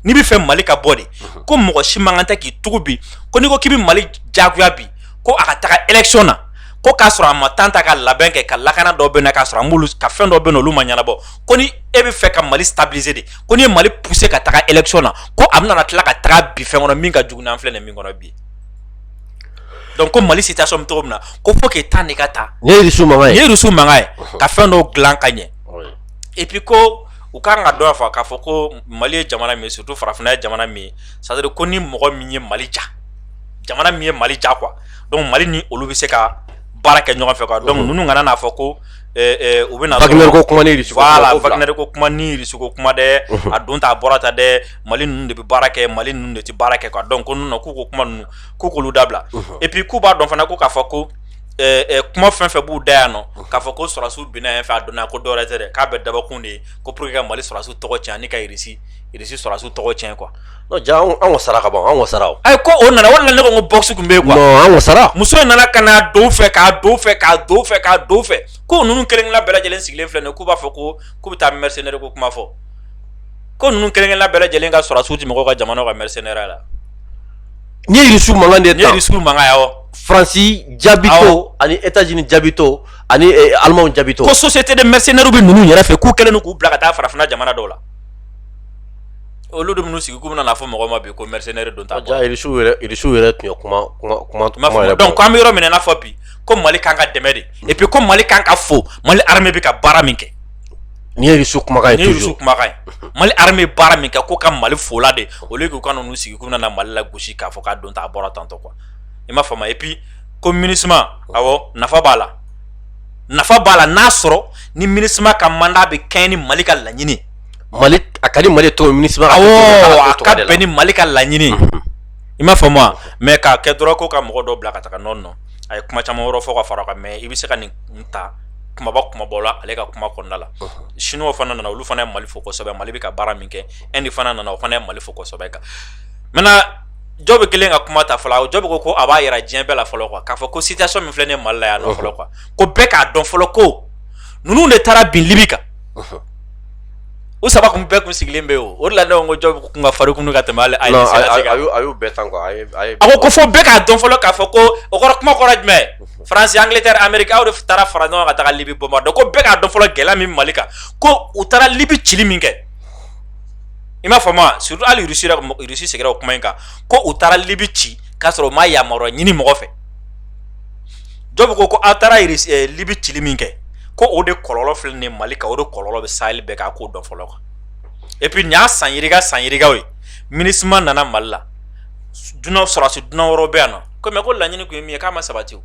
n'i b'a fɛ mali ka bɔ de ko mɔgɔ si man kan tɛ k'i tugu bi ko n'i ko k'i bɛ mali jagoya bi ko a ka taga élection na ko k'a sɔrɔ a ma temps ta ka labɛn kɛ ka lakana dɔ bɛ na k'a sɔrɔ a ka fɛn dɔ bɛ olu ma ɲɛnabɔ ko ni e b'a fɛ ka mali stabiliser de ko n'i ye mali pousser ka taga élection na ko a bɛna tila ka taga bin fɛn kɔnɔ min ka jugu n'an filɛ nin min kɔnɔ bi donc ko mali situation bɛ cogo min na ko faut que temps de ka ta nin ye russie mankan ye nin ye russie mankan ye ka fɛn dɔw dilan ka ɲɛ et puis ko u ka kan k'a dɔn fana k'a fɔ ko mali ye jamana min ye surtout farafinna ye jamana min ye c'est à dire ko ni mɔgɔ min ye mali diya jamana min ye mali diya quoi donc mali ni olu bɛ se ka baara kɛ ɲɔgɔn fɛ quoi donc ninnu kana n'a fɔ ko U bɛ wagner ko kuma wagner ko kuma ni irisi ko kuma dɛ a don t' a bɔra ta dɛ mali ninnu de bɛ baara kɛ mali ninnu de tɛ baara kɛ quoi donc ko ninnu k'u ko kuma ninnu k'u k'olu dabila et puis k'u b'a dɔn fana ko k'a fɔ ko kuma fɛn fɛn b'u da yan nɔ k'a fɔ ko sɔrɔsiw binna yen fɛ a dɔn ko dɔwɛrɛ tɛ dɛ k'a bɛɛ dabɔkun de ye ko pour que ka mali sɔrɔsiw tɔgɔ cɛn ani ka irisi sɔrɔsiw tɔgɔ cɛn quoi Ja anw ka sara ka bɔ anw ka sara a ko o nana o nana ne ko basi tun bɛ yen sara muso in nana ka n'a don fɛ ko ninnu kelenkelen bɛɛ lajɛlen sigilen filɛ nin k'u b'a fɔ ko k'u bɛ taa mercenaire ko kuma fɔ ko ninnu kelenkelen bɛɛ lajɛlen ka sɔrɔsiw tɛ mɔgɔw ka jamana ka mercenaire la nin ye irisi mankan de ye irisi mankan faransi jaabitɔ ani états-unis jaabitɔ ani allemand jaabitɔ ko société de mercenaires bɛ ninnu yɛrɛ fɛ k'u kɛlen k'u bila ka taa farafinna jamana dɔw la olu de minnu sigi k'u bɛna n'a fɔ mɔgɔ ma bi ko mercenaires don ta bɔ, ja irisiw yɛrɛ irisiw yɛrɛ tun ye kuma kuma kuma kuma M'a yɛrɛ fɔ donc an bɛ yɔrɔ min na i n'a fɔ bi ko mali kan ka dɛmɛ de et puis ko mali kan ka fo mali armée bɛ ka baara min kɛ nin ye irisiw kumakan ye ni irisiw toujours kumakan ye mali armée bɛ baara min kɛ ko ka mali fo o la de au lieu k'u ka n'u sigi k'u bɛna na mali lagosi k'a fɔ k'a don ta a bɔra tantɔ quoi i m'a faamu et puis ko minisma awɔ nafa b'a la nafa b'a la n'a sɔrɔ ni minisma ka mandat bɛ kɛɲɛ ni mali ka laɲini ye mali a ka di mali to minisma ka bɛn ni mali ka laɲini i m'a faamu wa mais k'a kɛ dɔrɔn ko ka mɔgɔ dɔ bila ka taga non non a ye kuma caman wɛrɛ fɔ ka fara o kan mais i bɛ se ka nin ta kumaba kumaba la ale ka kuma kɔnɔna la siniw fana nana olu fana ye mali fo kosɛbɛ mali bɛ ka baara min kɛ Inde fana nana o fana ye mali fo kosɛbɛ quoi maintenant Diop kɛlen ka kuma ta fɔlɔ Diop ko ko a b'a yira diɲɛ bɛɛ la fɔlɔ quoi k'a fɔ ko situation min filɛ nin ye mali la yan fɔlɔ quoi ko bɛɛ k'a dɔn fɔlɔ ko ninnu de taara bin libi kan u saba kun bɛɛ kun sigilen bɛ o de la ne ko Diop kun ka fari kunun ka tɛmɛ a y'o bɛɛ tan a ko ko fo bɛɛ k'a dɔn fɔlɔ k'a fɔ ko o kɔrɔ kuma kɔrɔ jumɛn faransi angleterre amérique aw de taara fara ɲɔgɔn ka taga libi bombarder ko bɛɛ k'a dɔn fɔlɔ gɛlɛya min mali kan ko u taara libi cili min kɛ i m'a faamu wa surtout hali irisi seginna o kuma in kan ko u taara libi ci k'a sɔrɔ u ma yamaruya ɲini mɔgɔ fɛ Diop ko ko aw taara libi cili min kɛ ko o de kɔlɔlɔ filɛ nin ye mali kan o de kɔlɔlɔ bɛ sahel bɛɛ k'a ko dɔn fɔlɔ quoi et puis nin y'a san yirika san yirikaw ye minisma nana mali la dunanw sɔrɔsi dunan wɛrɛw bɛ yan na ko mais ko laɲini kun ye min ye k'a ma sabati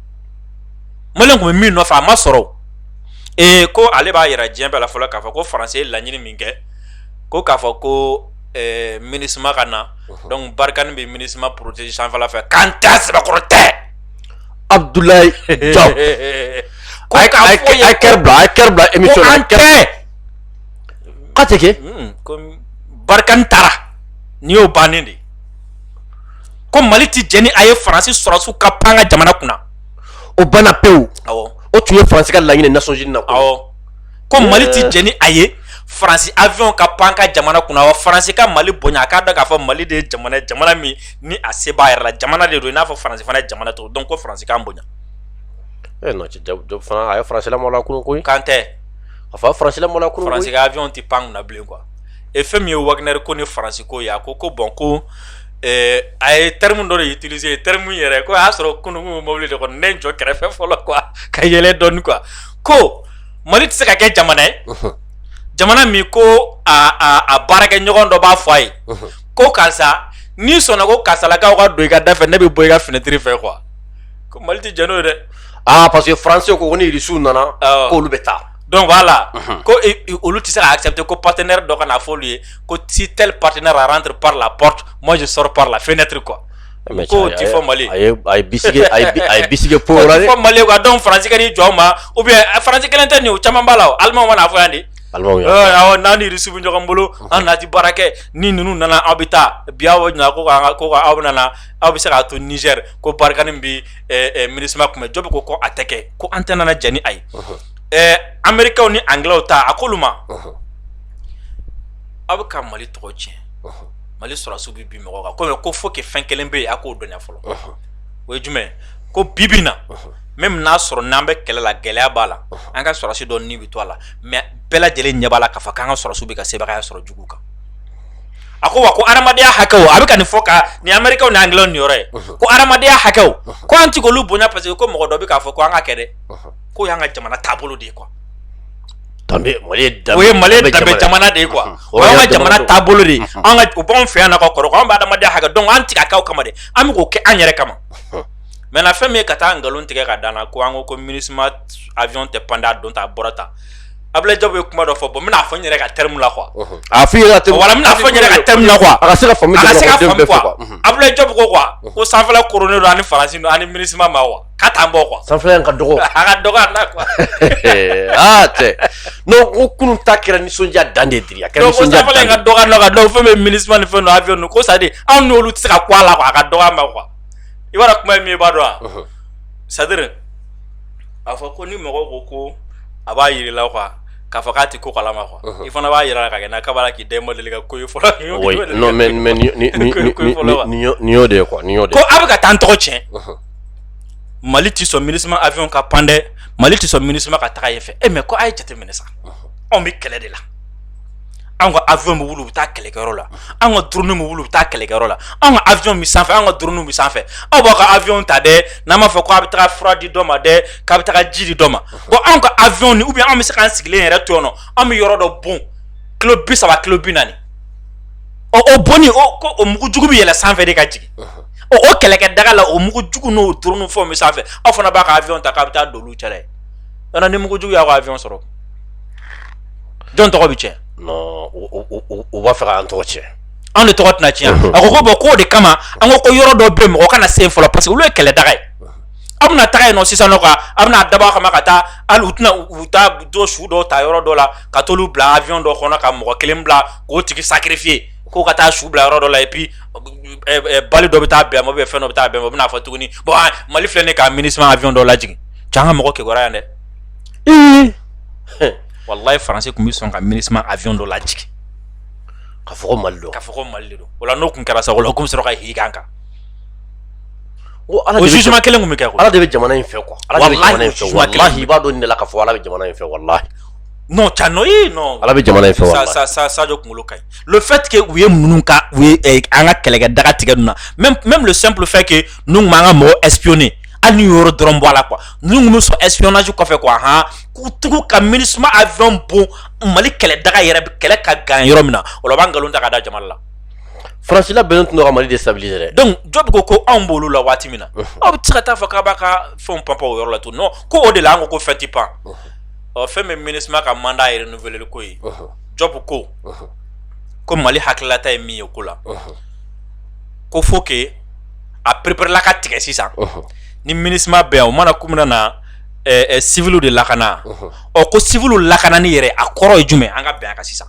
mali kun bɛ min nɔfɛ a ma sɔrɔ ee ko ale b'a yira diɲɛ bɛɛ la fɔlɔ k'a fɔ ko faransi ye laɲini min kɛ ko k'a fɔ ko minisma ka na donc barkhane bɛ minisma protéger sanfɛla fɛ k'an tɛ sɛbɛkɔrɔ tɛ Abdoulaye Diop a ye a ye kɛrɛ bila a ye kɛrɛ bila émission na kɛrɛ k'a tɛ kɛ komi Barkhane taara nin y'o bannen de ko Mali tɛ jɛn ni a ye Faransi sɔrɔdasiw ka pan an ka jamana kunna o banna pewu awɔ o tun ye Faransi ka laɲini Nations Unies na awɔ. ko mali tɛ jɛn ni a ye faransi avion ka pan an ka jamana kunna wa faransi ka mali bonya a k'a dɔn k'a fɔ mali de ye jamana ye jamana min ni a se b'a yɛrɛ la jamana de don i n'a fɔ faransi fana ye jamana cogo donc ko faransi k'an bonya Eh non, cɛ, Diop Diop fana a ye faransi lamɔla la kunun koyi. k'an tɛ A fa faransi lamɔla la kunun faransi koyi. ka avion tɛ pan kunna bilen quoi et fɛn min ye wagner ko ni faransi ko ye a ko ko bon ko eh, a ye terme dɔ de utiliser terme min yɛrɛ ko a y'a sɔrɔ kunun n kun bɛ mobili de kɔnɔ ne ye n jɔ kɛrɛfɛ fɔlɔ quoi ka yɛlɛ dɔɔni quoi ko mali tɛ se ka kɛ jamana ye jamana min ko a baarakɛ ɲɔgɔn dɔ b'a fɔ a ye ko karisa n'i sɔnna ko karisalakaw ka don i ka da fɛ ne bɛ bɔ i ka fenêtre fɛ quoi ko mali tɛ jɛn n'o ye dɛ aa parce que français ko ko ni irisiw nana k'olu bɛ taa donc voilà ko olu tɛ se ka accepter ko partenaire dɔ ka na fɔ olu ye ko si tel partenaire rentre par la porte moi je sors par la fenêtre quoi ko tɛ fɔ mali a ye a ye bisimila po la fɔ mali quoi donc faransi ni jɔn ma ou bien faransi kelen tɛ nin o caman b'a la alimanw mana fɔ yan de n'an ni irisi bɛ ɲɔgɔn bolo an na ti baara kɛ ni ninnu nana aw bɛ taa bi aw ɲininka ko ko aw bɛ nana aw bɛ se ka to nizɛri ko barkhane bɛ minusma tun bɛ diop ko ko a tɛ kɛ ko an tɛ nana jɛn n'a ye ɛɛ amerikaw ni angilɛw ta a k'olu ma aw bɛ ka mali tɔgɔ tiɲɛ mali sɔrɔsiw bɛ bin mɔgɔ kan kɔmi ko faut que fɛn kelen bɛ yen a k'o dɔnya fɔlɔ o ye jumɛn ko bi bi in na même n'a sɔrɔ n'an bɛ kɛlɛ la gɛlɛya b'a la an ka sɔrɔsi dɔ ni bɛ to a la mais bɛɛ lajɛlen ɲɛ b'a la k'a fɔ k'an ka sɔrɔsiw bɛ ka sebagaya sɔrɔ jugu kan a ko wa ko hadamadenya hakɛw a bɛ ka nin fɔ ka nin amerikaw ni angilɛw nin yɔrɔ ye ko hadamadenya hakɛw ko an ti k'olu bonya parce que ko mɔgɔ dɔ bɛ k'a fɔ ko an ka kɛ dɛ k'o y'an ka jamana taabolo de ye quoi mali ye danbe jamana de ye quoi o y'an ka jamana taabolo de an ka o b'anw fɛ yan na ka kɔrɔ an bɛ adamadenya hakɛ dɔn an ti k'a kɛ o kama dɛ an bɛ k'o kɛ an yɛrɛ kama maintenant fɛn min ye ka taa nkalon tigɛ ka da an na ko an ko ko minusma avion tɛ pan donc a bɔra tan ablaye diop ye kuma dɔ fɔ bon n bɛna fɔ n yɛrɛ ka terme la quoi a fɔ ka terme la quoi a se ka ablaye diop ko quoi ko sanfɛla koronnen don ani faransi ani minusma ma wa k'a t'an bɔ quoi sanfɛla ka dɔgɔ a ka dɔgɔ an na quoi aa cɛ non ko kunun ta kɛra nisɔndiya dan de diri a kɛra nisɔndiya dan ka dɔgɔ an na quoi donc fɛn bɛ minusma ni fɛn avion ninnu ko c'est-à-dire anw n'olu tɛ se ka kun a la quoi a ka dɔgɔ a ma quoi i b'a dɔn kuma ye min ye i b'a dɔn wa c'est-à-dire a fɔ ko ni mɔgɔ ko ko a b'a yiri la quoi k'a fɔ k'a tɛ ko kalama quoi uh-huh. i fana b'a yira la ka kɛ n'a kaba la k'i den ma deli ka ko ye fɔlɔ nin y'o de ye quoi nin y'o de ye ko a bɛ ka taa n tɔgɔ tiɲɛ uh-huh. mali tɛ sɔn minusma avion ka pan dɛ mali tɛ sɔn minusma ka taga yen fɛ e mais ko a ye jate minɛ sa anw bɛ kɛlɛ de la anw ka avion bɛ wuli u bɛ taa kɛlɛkɛyɔrɔ la an ka drone bɛ wuli u bɛ taa kɛlɛkɛyɔrɔ la anw ka avion bɛ sanfɛ an ka drone bɛ sanfɛ aw b'aw ka avion ta dɛ n'a b'a fɔ ko a bɛ taa fura di dɔ ma dɛ k'a bɛ taa ji di dɔ ma bon anw ka avion ni ou bien an bɛ se k'an sigilen yɛrɛ to yan anw bɛ yɔrɔ dɔ bon kilo bi saba kilo bi naani ɔ o bonni ko o mugujugu bɛ yɛlɛ sanfɛ de ka jigin ɔ o kɛlɛkɛ daga la o mugujugu n'o drone fɛnw bɛ sanfɛ aw fana b'a ka avion ta k'a bɛ taa don olu cɛla ye yɔrɔ ni mugujugu y'aw ka avion sɔrɔ jɔn tɔgɔ bɛ tiɲɛ non u b'a fɛ k'an tɔgɔ tiɲɛ anw de tɔgɔ tɛna tiɲɛ a ko ko bon k'o de kama an ko ko yɔrɔ dɔ bɛ mɔgɔ kana se yen fɔlɔ parce que olu ye kɛlɛ daga ye aw bɛna taga yen nɔ sisan nɔ quoi aw bɛna dabɔ a kama ka taa hali u tɛna u taa dɔ su dɔ ta yɔrɔ dɔ la ka t'olu bila avion dɔ kɔnɔ ka mɔgɔ kelen bila k'o tigi sacrifier k'o ka taa su bila yɔrɔ dɔ la et puis balle dɔ bɛ taa bɛn ma ou bien fɛn dɔ bɛ taa bɛn ma u bɛna fɔ tuguni bon Mali filɛ nin ye ka MINUSMA avion dɔ lajigin cɛ an ka mɔgɔ kibaruya yan dɛ. Ee. Walayi faransi tun bɛ sɔn ka MINUSMA avion dɔ lajigin. K'a fɔ ko Mali don. K'a fɔ ko Mali de don o la n'o tun kɛra sa o la u tun bɛ sɔrɔ ka jigin an kan. O jugement kelen tun bɛ kɛ Ala de bɛ jamana in fɛ quoi walayi i b'a dɔn nin de la k'a fɔ Ala bɛ jamana in fɛ walayi Cano Ala bɛ jamana in fɛ sa sa Sadio kunkolo ka ɲi le fait que u ye ninnu ka u ye an ka kɛlɛkɛ daga tigɛ ninnu na même le simple fait que ninnu tun b'an ka mɔgɔ espionner hali nin yɔrɔ dɔrɔn bɔ a la quoi ninnu bɛ sɔn espionnage kɔfɛ quoi han k'u tugu ka MINUSMA avion bon Mali kɛlɛ daga yɛrɛ kɛlɛ ka gan yɔrɔ min na o la u b'a nkalon ta ka da jamana la Faransi labɛnnen tun don ka Mali déstabiliser dɛ donc Diop ko ko anw b'olu la waati min na aw tɛ se ka taa fɔ k'a b'a ka fɛn panpan o yɔrɔ la tun non ko o de la an ko fɛn tɛ pan ɔ fɛn min MINUSMA ka mandat ye renouveler ko ye Diop ko ko Mali hakililata ye min ye ko la ko faut que a pereperela ka tigɛ sisan ni MINUSMA bɛ yan u nana kun min na civil de lakana ɔ ko civil lakanani yɛrɛ a kɔrɔ ye jumɛn an ka bɛn a kan sisan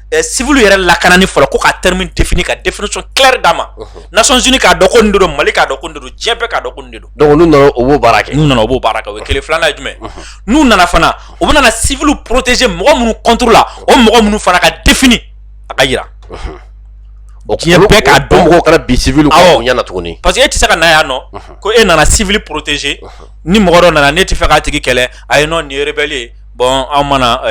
civil yɛrɛ lakanani fɔlɔ ko ka terme in définir ka définition claire d'a ma Nations Unies k'a dɔn ko nin de don Mali k'a dɔn ko nin de don diɲɛ bɛɛ k'a dɔn ko nin de don donc n'u nana u b'o baara kɛ n'u nana u b'o baara kɛ o ye kelen filanan ye jumɛn n'u nana fana u bɛna civil protéger mɔgɔ minnu contre la o mɔgɔ minnu fana ka défini a ka jira o diɲɛ bɛɛ k'a dɔn mɔgɔw kana bi civil ɲɛna tuguni parce que e tɛ se ka na yan nɔ ko e nana civil protéger ni mɔgɔ dɔ nana ne t'a fɛ k'a tigi kɛlɛ ayi non nin ye rebelle ye bon anw ma na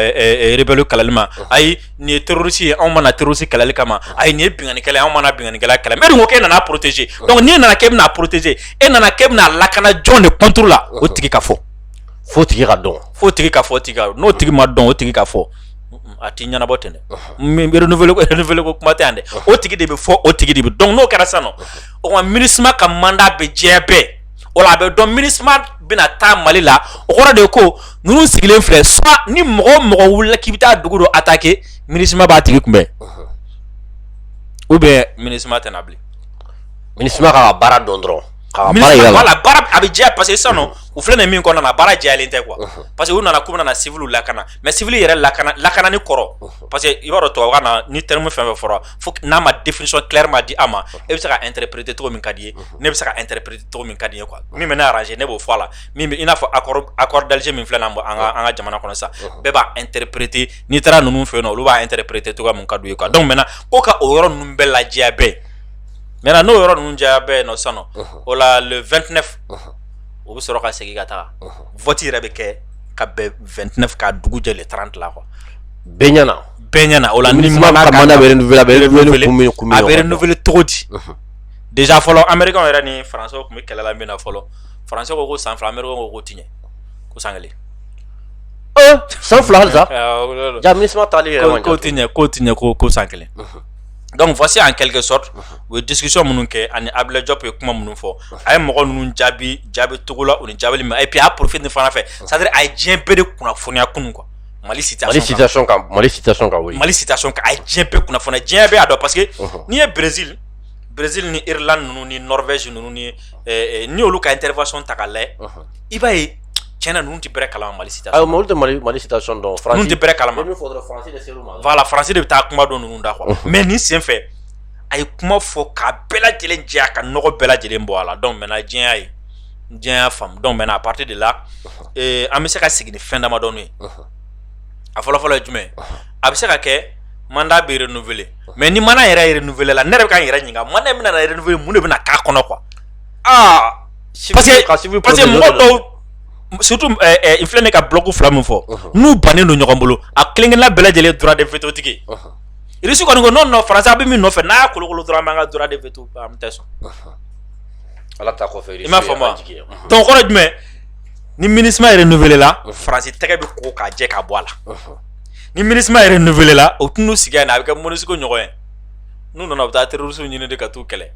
rebelle kɛlɛli ma ayi nin ye terroriste ye anw ma na terroriste kɛlɛli kama ayi nin ye binkannikɛla ye anw ma na binkannikɛla kɛlɛ mais ko e nana protéger donc n'i nana k'e bɛna a protéger e nana k'e bɛna a lakana jɔn de contre la o tigi ka fɔ fo o tigi ka dɔn fo o tigi ka fɔ tigi n'o tigi ma dɔn o tigi ka fɔ a tɛ ɲɛnabɔ ten dɛ renouveler ko kuma tɛ yan dɛ o tigi de bɛ fɔ o tigi de bɛ dɔn n'o kɛra sa o ka MINUSMA ka mandat bɛ diɲɛ bɛɛ o la a bɛ dɔn MINUSMA bɛna taa Mali la o kɔrɔ de ko ninnu sigilen filɛ soit ni mɔgɔ o mɔgɔ wulila k'i bɛ taa dugu dɔ attaquer MINUSMA b'a tigi kunbɛn ou bien MINUSMA tɛna bilen MINUSMA ka baara dɔn dɔrɔn a bɛ jɛya parce que sisan nɔ u filɛ nin min kɔnɔna na baara jɛyalen tɛ quoi parce que u nana k'u bɛna civil lakana mais civil yɛrɛ lak lakanani kɔrɔ parce que i b'a dɔn tubabukan na ni terme fɛn o fɛn fɔra fo n'a ma définition claire ma di a ma e bɛ se ka interpréter cogo min ka di ye ne bɛ se ka interpréter cogo min ka di ye quoi min bɛ ne arranger ne b'o fɔ a la min bɛ i n'a fɔ accord accord d'Alger min filɛ nin ye an ka an ka jamana kɔnɔ sisan bɛɛ b'a interpréter n'i taara ninnu fɛ yen nɔ olu b'a interpréter cogoya min ka d'u ye quoi donc maintenant ko ka o yɔrɔ ninnu bɛɛ lajɛya bɛɛ maintenant n'o yɔrɔ ninnu jɛya bɛɛ yen nɔ sisan nɔ o la le 29 o bɛ sɔrɔ ka segin ka taga vote yɛrɛ bɛ kɛ ka bɛn 29 ka dugu jɛ le 30 la quoi bɛɛ ɲɛna bɛɛ ɲɛna o la minisima ka mandat bɛ renouveler a bɛ renouveler kun min kun min a bɛ renouveler cogo di déjà fɔlɔ américain yɛrɛ ni français tun bɛ kɛlɛ la min na fɔlɔ français ko ko san fila américain ko ko ti ɲɛ ko san kelen san fila hali sa ja minisima taali yɛrɛ ma ko ti ɲɛ ko ti ɲɛ ko ko san kelen donc voici en quelque sorte u ye discussion minnu kɛ ani Ablaye Diop ye kuma minnu fɔ a ye mɔgɔ ninnu jaabi jaabi cogo la u ni jaabili ma et puis a profite nin fana fɛ c'est à dire a ye diɲɛ bɛɛ de kunnafoniya kunun quoi mali mali mali diɲɛ bɛɛ kunnafoni diɲɛ bɛɛ' dɔn parce que n'i ye brezili brez ni ila ninnu ni nɔfɛsi ninnu ni olu ka n teri ta ka la i b'a ye cɛn ninnu tɛ bɛ kala mali tɛransi de bɛ taa kuma don ninnu da kuwa mɛ ni senfɛ a ye kuma fɔ k'a bɛɛ lajɛlen diya ka nɔgɔ bɛɛ lajɛlen bɔ a la dɔn mɛ diɲɛya ye diɲɛ y'a faamu donc maintenant à partir de là ee an bɛ se ka sigi ni fɛn damadɔni ye a fɔlɔfɔlɔ ye jumɛn a bɛ se ka kɛ mandat bɛ renouveler mais ni mandat yɛrɛ ye renouveler la ne yɛrɛ bɛ ka n yɛrɛ ɲininka mandat min bɛna renouveler mun de bɛna k'a kɔnɔ quoi aa parce que parce que mɔgɔ dɔw surtout eh, eh, n filɛ ne ka bloc fila min fɔ uh-huh. n'u bannen don ɲɔgɔn bolo a kelen kelenna bɛɛ lajɛlen droit de veto tigi uh-huh. irisi kɔni ko non faransi a bɛ min nɔfɛ n'a y'a kolokolo dɔrɔn an b'an ka droit de veto an tɛ sɔn uh-huh. Ala ta kɔfɛ i m'a faamu donc kɔrɔ jumɛn ni minisima renouveler la faransi tɛgɛ bɛ ko k'a jɛ k'a bɔ a la ni minisima renouveler la u tɛna sigi yan a bɛ kɛ Monusco ɲɔgɔn ye n'u nana u bɛ taa terroristes ɲini de ka taa u kɛlɛ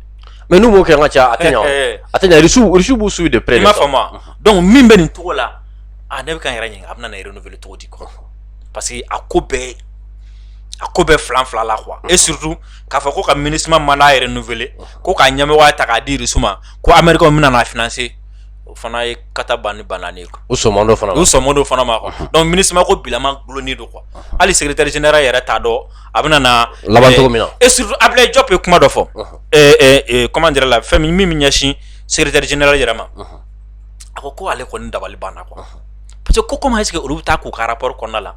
mais n'u m'o kɛ ka ca a tɛ ɲɛ Russie b'u suivre de près i m'a faamu donc min bɛ nin cogo la a ne bɛ ka n yɛrɛ ɲininka a bɛna renouveler cogo di quoi parce que a ko bɛɛ a ko bɛɛ filan fila la quoi et surtout k'a fɔ ko ka minisima mandat renouveler ko k'a ɲɛmɔgɔya ta k'a di Russie ma ko Américain bɛna na financer o fana ye kata ban ni bananen ye quoi u sɔnman t'o fana ma u sɔnman t'o fana ma quoi donc Minusima ko bilama gulonnen don quoi hali secrétaire général yɛrɛ t'a dɔn a bɛna na laban cogo min na et surtout Ablaye Diop ye kuma dɔ fɔ ɛɛ comment dirais la fɛn min min bɛ ɲɛsin secrétaire général yɛrɛ ma a ko ko ale kɔni dabali banna quoi parce que ko comment est-ce que olu bɛ taa k'u ka rapport kɔnɔna la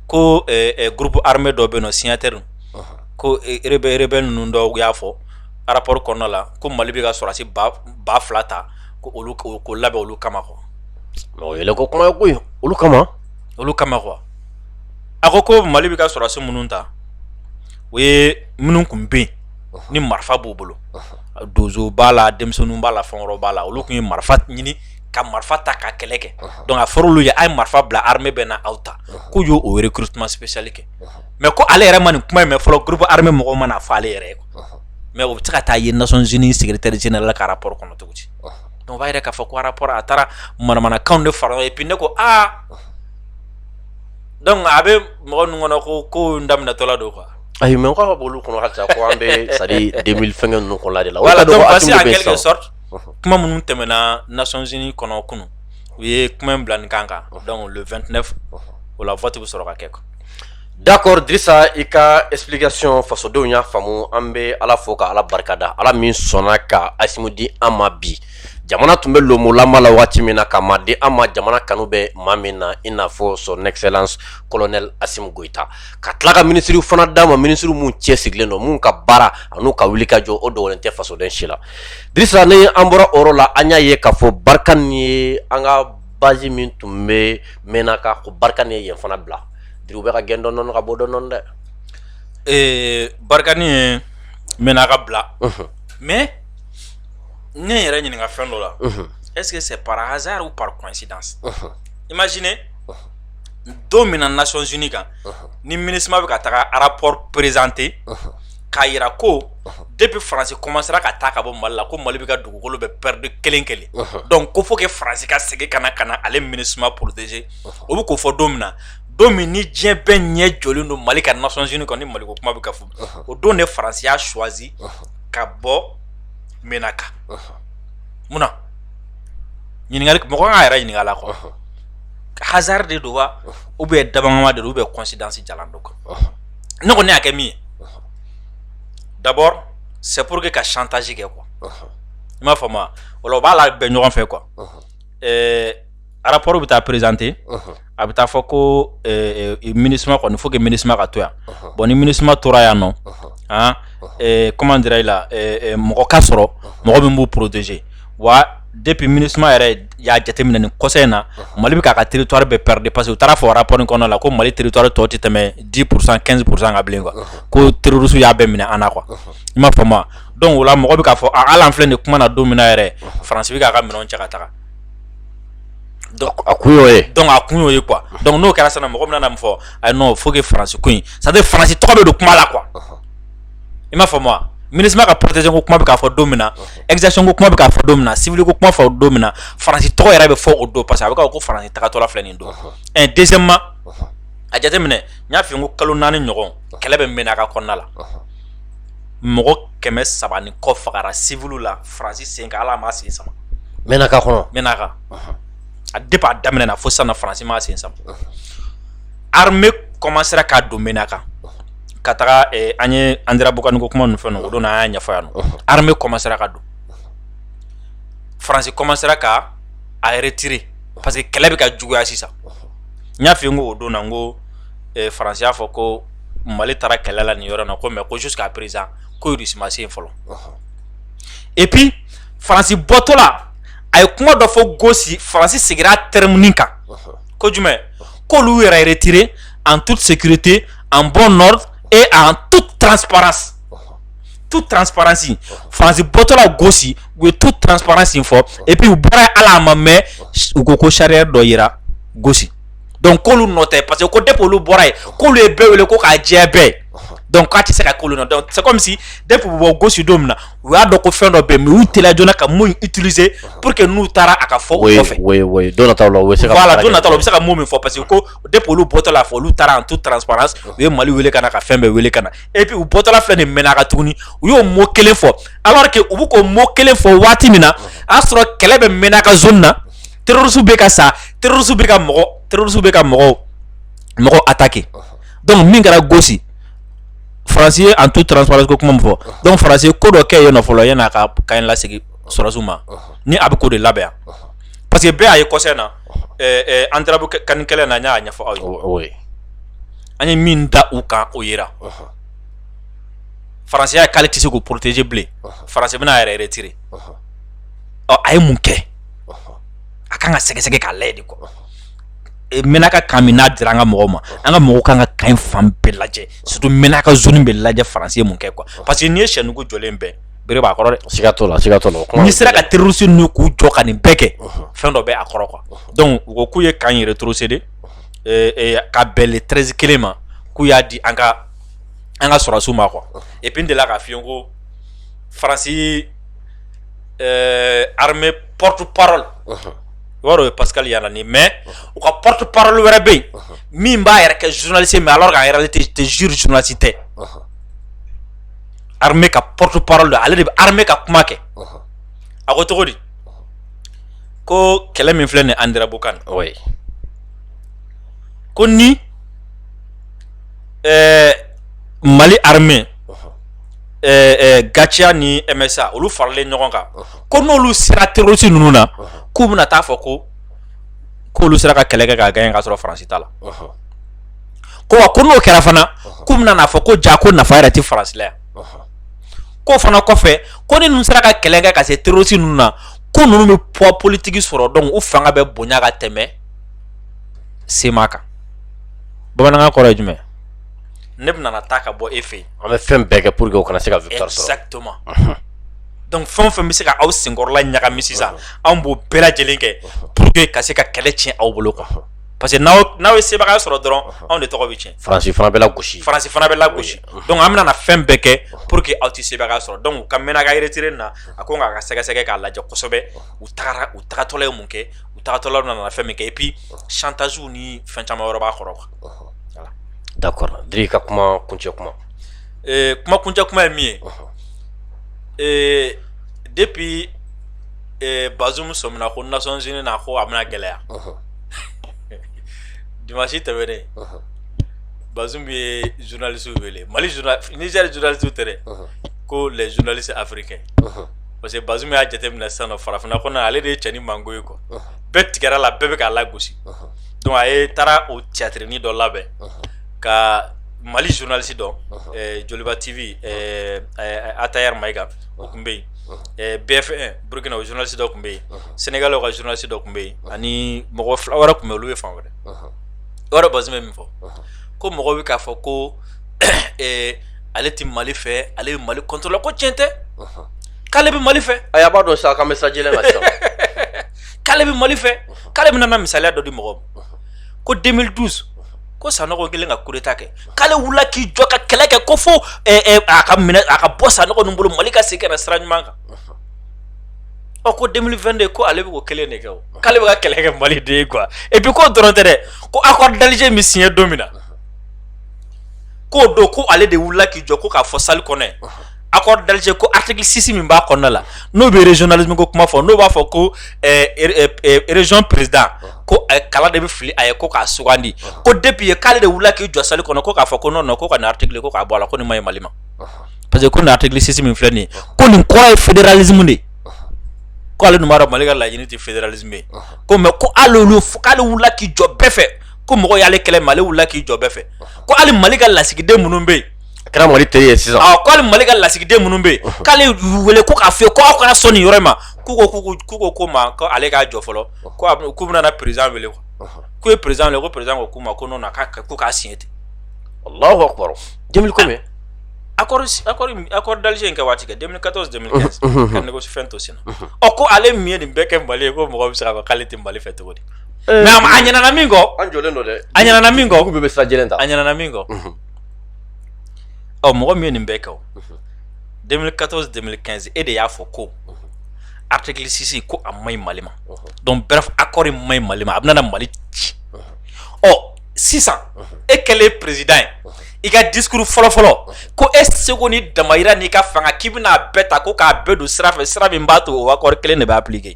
ko groupe armé dɔ bɛ yen nɔ signataire ko rebelle ninnu dɔw y'a fɔ rapport kɔnɔna la ko mali bɛ ka sɔrɔdasi ba fila ta ko olu ko labɛn olu kama quoi o yɛlɛko kuma ye koyi olu kama olu kama quoi a ko ko mali bɛ ka sɔrɔdasi minnu ta o ye minnu tun bɛ yen ni marifa b'u bolo donso b'a la denmisɛnnin b'a la fɛn wɛrɛ b'a la olu tun ye marifa ɲini ka marifa ta ka kɛlɛ kɛ donc a fɔra olu ye a ye marifa bila armée bɛ na aw ta k'u y'o recrutement spécial kɛ mais ko ale yɛrɛ ma nin kuma mɛn fɔlɔ groupe armé mɔgɔ ma n'a fɔ ale yɛrɛ ye mais o bɛ se ka taa ye nations unies secrétaire général ka rapport kɔnɔ cogo di donc o b'a yira k'a fɔ ko rapport a taara manamanakan de fara ye ne ko aa donc a bɛ mɔgɔ ninnu kɔnɔ ko ko n daminɛtɔla don quoi ayi mais ko olu kɔnɔ halisa ko an bɛ sa fɛnkɛ ninnu kɔnɔ de la en quelque sorte kuma minnu tɛmɛna nations unies kɔnɔ kunun u ye kuma in bila nin kan kan donc le 29 o la vote bɛ sɔrɔ ka kɛ D'accord drisa i ka explication fasodenw y'a faamu an bɛ ala fo ka ala barikada ala min sɔnna ka asimi di an ma bi jamana tun bɛ lonmolama la waati min na ka maa di an ma jamana kanu bɛ maa min na i n'a fɔ son excellence colonel asimi goyita ka tila ka minisiriw fana d'a ma minisiri minnu cɛsirilen don minnu ka baara an'u ka wuli ka jɔ o dogolen tɛ fasoden si la drisa ni an bɔra o yɔrɔ la an y'a ye k'a fɔ barkhane ye an ka basi min tun bɛ mɛnna ka ko barika ni ye fana bila dugu bɛ ka gɛn dɔn ka bɔ dɔn dɛ ee barika ni ye mɛnna ka bila mɛ ne yɛrɛ ɲininka fɛn dɔ la ɛse se para hazsari pa kɔnsi dan i ma sini don min na naon z kan ni minima bɛ ka taga arap perezte k'a jira ko depuis faransi kɔmansera ka taa ka bɔ mali la ko mali bɛ ka dugukolo bɛɛ perdi kelen kelen donc ko fo faransi ka segin ka na ka na ale minusma protéger o bɛ k'o fɔ don min na don min ni diɲɛ bɛɛ ɲɛ jɔlen don mali kan nations unies kɔnɔ mali ko kuma bɛ ka fɔ o don de faransi y'a choisi ka bɔ menaka munna ɲininkali mɔgɔ kan k'a yɛrɛ ɲininka a la quoi hasard de don wa ou bien dab'a kama de ou bien coïncidence jalan don quoi ne ko ne y'a kɛ min ye dabɔ se porour que ka santasi kɛ kuwa n b'a fɔ ma o b'a la bɛn ɲɔgɔn fɛ kuwa arap bɛ taa perezte a bɛ taa fɔ ko mini kɔni fo mini ka to yan bɔn ni mini tora yan nɔ kɔman jira i la mɔgɔ ka sɔrɔ mɔgɔ min b'u porotee wa depuis MINUSMA yɛrɛ y'a jateminɛ nin kɔ in na mali bɛ k'a ka territoire bɛɛ perdre parce que u taara fɔ rapport kɔnɔna la ko mali territoire tɔ tɛ tɛmɛ dix pour cent quinze pour cent kan bilen ko terroristes y'a bɛɛ minɛ an na quoi i m'a faamu donc o la mɔgɔ bɛ k'a fɔ hali an filɛ nin kuma na don min yɛrɛ faransi bɛ k'a ka minɛnw cɛ ka taga a kun donc a kun y'o ye quoi donc n'o kɛra sisan mɔgɔ min min fɔ ayi non faut faransi ko in c'est-à-dire faransi tɔgɔ bɛ don kuma la quoi i m'a faamu wa MINUSMA ka protection ko kuma bɛ ka fɔ don min na exaction ko kuma bɛ ka fɔ don min na civil ko kuma fɔ don min na faransi tɔgɔ yɛrɛ bɛ fɔ o don parce que a bɛ k'a fɔ ko faransi tagatɔla filɛ nin don deuxièmement a jateminɛ n y'a f'i ye ko kalo naani ɲɔgɔn kɛlɛ bɛ Menaka kɔnɔna la mɔgɔ kɛmɛ saba ni kɔ fagara civilw la faransi sen kan hali a ma sen sama Menaka kɔnɔ Menaka depuis a daminɛ na fo sisan faransi ma sen sama armée commencera ka don Menaka ka taga an ye Anderanbukani ko kuma ninnu fɛn o don an y'a ɲɛfɔ yan armée commencera ka don faransi commencera ka a retirer parce que kɛlɛ bɛ ka juguya sisan n y'a f'i ye n ko o don na n ko faransi y'a fɔ ko mali taara kɛlɛ la nin yɔrɔ na ko mais ko jusqu'à présent ko Russie ma se yen fɔlɔ et puis faransi bɔtɔla a ye kuma dɔ fɔ gosi faransi segira terme min kan ko jumɛn k'olu yɛrɛ yɛrɛtirire an tu sete an bɔ nɔ e an tu tranp tu tranpransi fasi bɔtɔla gosi u ye tu tranpransi fɔ epi u bɔra ala a ma mɛ u ko ko sariya dɔ jira gosi dɔnku k'olu nɔ tɛ parce que ko de olu bɔra ye k'olu ye bɛɛ wele ko k'a jɛ bɛɛ dɔnku k'a tɛ se ka kolon dɔn se misi de bɛ bɔ gosi don min na u y'a dɔn ko fɛn dɔ bɛ yen u teliya joona ka mot nin utiliser pour que n'u taara a ka fɔ u kɔfɛ oui oui don nataw la u bɛ se ka voilà don nataw la u bɛ se ka mot min fɔ parce que ko depuis olu bɔtɔ la fɔ olu taara en toute transparence u ye Mali wele ka na ka fɛn bɛɛ wele ka na et puis u bɔtɔla filɛ nin Menaka tuguni u y'o mot kelen fɔ alors que u bɛ k'o mot kelen fɔ waati min na a y'a sɔrɔ kɛlɛ bɛ Menaka zone na terroristes bɛ ka sa terroristes bɛ ka mɔgɔ terroristes bɛ ka mɔgɔw mɔgɔw attaquer donc min kɛra Gosi faransi ye en toute transparence ko kuma min fɔ donc faransi ye ko dɔ kɛ yen fɔlɔ yanni a ka camp lasegin sɔrɔdasiw ma ni a bɛ k'o de labɛn yan parce que bɛɛ y'a ye kɔsa in na Anderanbukani kɛlɛ na n y'a ɲɛfɔ aw ye an ye min da u kan o yera faransi y'a ye k'ale tɛ se k'u protéger bilen faransi bɛna a yɛrɛ retirer ɔ a ye mun kɛ a ka kan ka sɛgɛsɛgɛ k'a lajɛ quoi Ménaka camp min n'a dira an ka mɔgɔw ma an ka mɔgɔw ka kan ka camp fan bɛɛ lajɛ surtout Ménaka zone bɛɛ lajɛ faransi ye mun kɛ quoi parce que n'i ye sɛ nugu jɔlen bɛ bere b'a kɔrɔ dɛ siga t'o la n'i sera ka terroriste ninnu k'u jɔ ka nin bɛɛ kɛ fɛn dɔ bɛ a kɔrɔ quoi donc u ko k'u ye camp rétrocéder ka bɛn le treize kelen ma k'u y'a di an ka sɔrɔsiw ma quoi et puis n delila k'a f'i ye ko faransi armée porte-parole o yɔrɔ ye paka yala ni mɛ u ka ptof wɛrɛ bɛ yen min b'a yɛrɛ kɛ zunlalise mɛ ala ka yɛrɛ tɛ zuru zunlasi tɛ ka ptof don ale de bɛ ka kuma kɛ a ko cogo di ko kɛlɛ min filɛ ni an yɛrɛbu kan ko ni mali hame Gatia ni MSA olu faralen ɲɔgɔn kan ko n'olu sera terroriste ninnu na k'u bɛna taa fɔ ko k'olu sera ka kɛlɛ kɛ k'a gagner k'a sɔrɔ faransi t'a la quoi ko n'o kɛra fana k'u bɛna n'a fɔ ko ja ko nafa yɛrɛ tɛ faransi la yan k'o fana kɔfɛ ko ni ninnu sera ka kɛlɛ kɛ ka se terroriste ninnu na ko ninnu bɛ poids politique sɔrɔ donc u fanga bɛ bonya ka tɛmɛ CMA kan bamanankan kɔrɔ ye jumɛn ne bɛna na taa ka bɔ e fɛ yen an bɛ fɛn bɛɛ kɛ pour que o kana se ka victoire sɔrɔ exactement donc fɛn o fɛn bɛ se ka aw senkɔrɔla ɲagami sisan anw b'o bɛɛ lajɛlen kɛ pour que ka se ka kɛlɛ tiɲɛ aw bolo quoi parce que n'aw ye sebagaya sɔrɔ dɔrɔn anw de tɔgɔ bɛ tiɲɛ faransi fana bɛ lagosi donc an bɛna na fɛn bɛɛ kɛ pour que aw tɛ sebagaya sɔrɔ donc u ka Ménaka retiré nin na a ko ka kan ka sɛgɛsɛgɛ k'a lajɛ kosɛbɛ u tagara u tagatɔla ye mun kɛ u tagatɔla nana fɛn min kɛ et puis chantage ni fɛn caman wɛrɛ b'a kɔrɔ quoi D'accord Diri ka kuma kuncɛ kuma kuma kuncɛ kuma ye min ye depuis Bazoum sɔmina ko Nations unies na ko a bɛna gɛlɛya dimansi tɛmɛnen Bazoum ye journalistew wele mali Niger journalistew tɛ ko les journalistes africains parce que Bazoum y'a jateminɛ sisan farafinna kɔnɔ ale de ye cɛnin mango ye quoi bɛɛ tigɛra a la bɛɛ bɛ k'a lagosi Donc a ye taara o théâtre-ni dɔ labɛn ka mali journaliste dɔ Joliba TV Attaher Maïga o tun bɛ yen BF1 burukina o journaliste dɔ tun bɛ yen Sénégal o ka journaliste dɔ tun bɛ yen ani mɔgɔ fila wɛrɛ tun bɛ olu ye fan wɛrɛ o yɔrɔ Bazoum ye min fɔ ko mɔgɔ bɛ k'a fɔ ko ale tɛ mali fɛ ale bɛ mali contre la ko tiɲɛ tɛ k'ale bɛ mali fɛ a y'a b'a dɔn sa ka bɛ sajɛ la k'ale bɛ mali fɛ k'ale bɛna na misaliya dɔ di mɔgɔ ma ko 2012 ko sanɔgɔ kɛlen ka coup d'état kɛ k'ale wulila k'i jɔ ka kɛlɛ kɛ ko fo eh, eh, a ka minɛ a ka bɔ sanɔgɔ ninnu bolo mali ka segin ka na sira ɲuman kan ɔ ko 2022 ko ale bɛ ko kelen de kɛ o k'ale bɛ ka kɛlɛ kɛ mali de ye quoi et puis k'o dɔrɔn tɛ dɛ ko accord d'Alger min signé don min na k'o don ko ale de wulila k'i jɔ ko k'a fɔ salle kɔnɔ yen accord d'Alger ko article 6 min b'a kɔnɔna la n'o bɛ régionalisme ko kuma fɔ n'o b'a fɔ ko région président ko kala de bɛ fili a ye ko k'a sugandi ko depuis ye k'ale de wulila k'i jɔ salle kɔnɔ ko k'a fɔ ko non ko ka nin article ko k'a bɔ a la ko nin man ɲi mali ma parce que ko nin article 6 min filɛ nin ye ko nin kɔrɔ ye fédéralisme de k'ale dun b'a dɔn mali ka laɲini tɛ fédéralisme ye ko mais ko ale k'ale wulila k'i jɔ bɛɛ fɛ ko mɔgɔ y'ale kɛlɛ mais ale wulila k'i jɔ bɛɛ fɛ ko hali mali ka lasigiden minnu bɛ yen a kɛra mali teri ye sisan ko hali mali ka lasigiden minnu bɛ yen k'ale wele ko k'a fɔ ko aw kana sɔn nin yɔrɔ ma k'u ko k'u ko ko ma ko ale k'a jɔ fɔlɔ ko k'u bɛna président wele k'u ye président wele ko président ko k'u ma ko non ko k'a signé ten Allahu akbar 2000 combien accord d'Alger in kɛ waati kɛ 2014 2015 ka fɛn to senna ɔ ko ale min ye nin bɛɛ kɛ mali ye ko mɔgɔ bɛ se k'a fɔ k'ale tɛ mali fɛ cogo di mais a ɲinɛna min kɔ an jɔlen don dɛ a ɲinɛna min kɔ bɛ sa ta a ɲinɛna min kɔ ɔ mɔgɔ min ye nin bɛɛ kɛ o 2014 2015 e de y'a fɔ ko article 6 ko a man ɲi Mali ma donc bref accord in man ɲi Mali ma a bɛna na Mali ci ɔ sisan e kɛlen président ye i ka discours fɔlɔfɔlɔ ko e seko ni damayira n'i ka fanga k'i bɛna a bɛɛ ta ko k'a bɛɛ don sira fɛ sira min b'a to o accord kelen de bɛ appliquer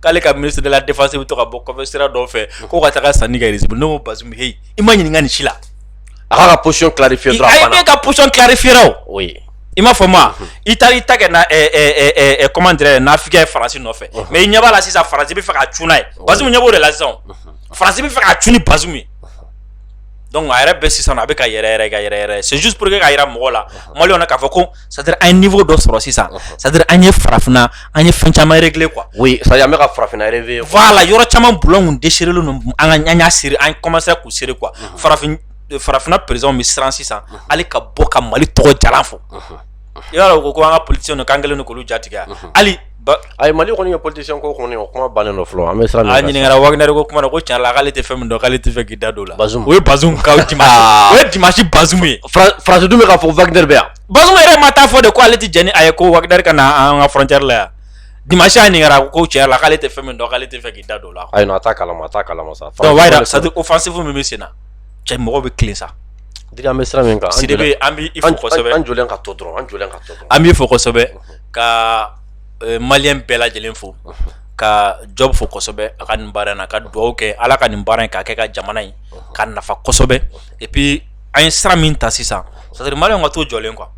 k'ale ka ministre de la défense bɛ to ka bɔ sira dɔw fɛ ko ka taa sanni kɛ Russie bolo ne ko Bazoum heyi i ma ɲininka nin si la a ka position clarifier dɔrɔn ka position clarifier o ye i m'a fɔ ma i taara i ta kɛ comment dirais n'Afrique ye France nɔfɛ mais i ɲɛ b'a la sisan France bɛ fɛ ka cun n'a ye Bazoum ɲɛ b'o de la sisan France bɛ fɛ ka cun ni Bazoum ye donc a yɛrɛ bɛ sisan a bɛ ka yɛrɛ yɛrɛ ka yɛrɛ yɛrɛ c'est juste pour que ka jira mɔgɔ la maliyɛnw na k'a fɔ ko sadiri an ye fɔ dɔ sɔrɔ sisan sadiri an ye farafinna an ye fɛn caman yɛrɛgle kuwa o sa an bɛ ka farafinna yɛrɛ fɔ la yɔrɔ caman bulon de seere ninnu an ka ɲan siri an kɔmasa k'u seere kuwa farafin farafinna perezw bɛ siran sisan hali ka bɔ ka mali tɔgɔ jara fɔ i y'a ko ko an ka polisi k'an kelen ni kulu jatigɛ hali ayi mali kɔni ye politicien ko kɔni o kuma bannen don fɔlɔ an bɛ siran a ɲininkara Wagner ko kuma ko cɛn la k'ale tɛ fɛn min dɔn k'ale tɛ fɛ k'i da don o la Bazoum o ye Bazoum dimanche Bazoum ye France dun bɛ k'a fɔ Wagner bɛ yan Bazoum yɛrɛ ma taa fɔ de k'ale ale tɛ jɛn n'a ye ko Wagner ka na an ka frontière la yan dimanche a ɲininkara ko cɛn la k'ale tɛ fɛn min dɔn k'ale tɛ fɛ k'i da don o la ayi a t'a kalama a t'a kalama sa c'est-à-dire offensive min bɛ sen na cɛ mɔgɔ bɛ kelen sa an bɛ sira min kan an bɛ an jɔlen ka to dɔrɔn an jɔlen ka to an b'i fo kosɛbɛ ka maliyɛn bɛɛ lajɛlen fo ka Job fo kosɛbɛ a ka nin baara na ka dugawu kɛ ala ka nin baara in k'a kɛ ka jamana in ka nafa kosɛbɛ et puis an ye sira min ta sisan c'est-à-dire maliyɛnw ka to jɔlen quoi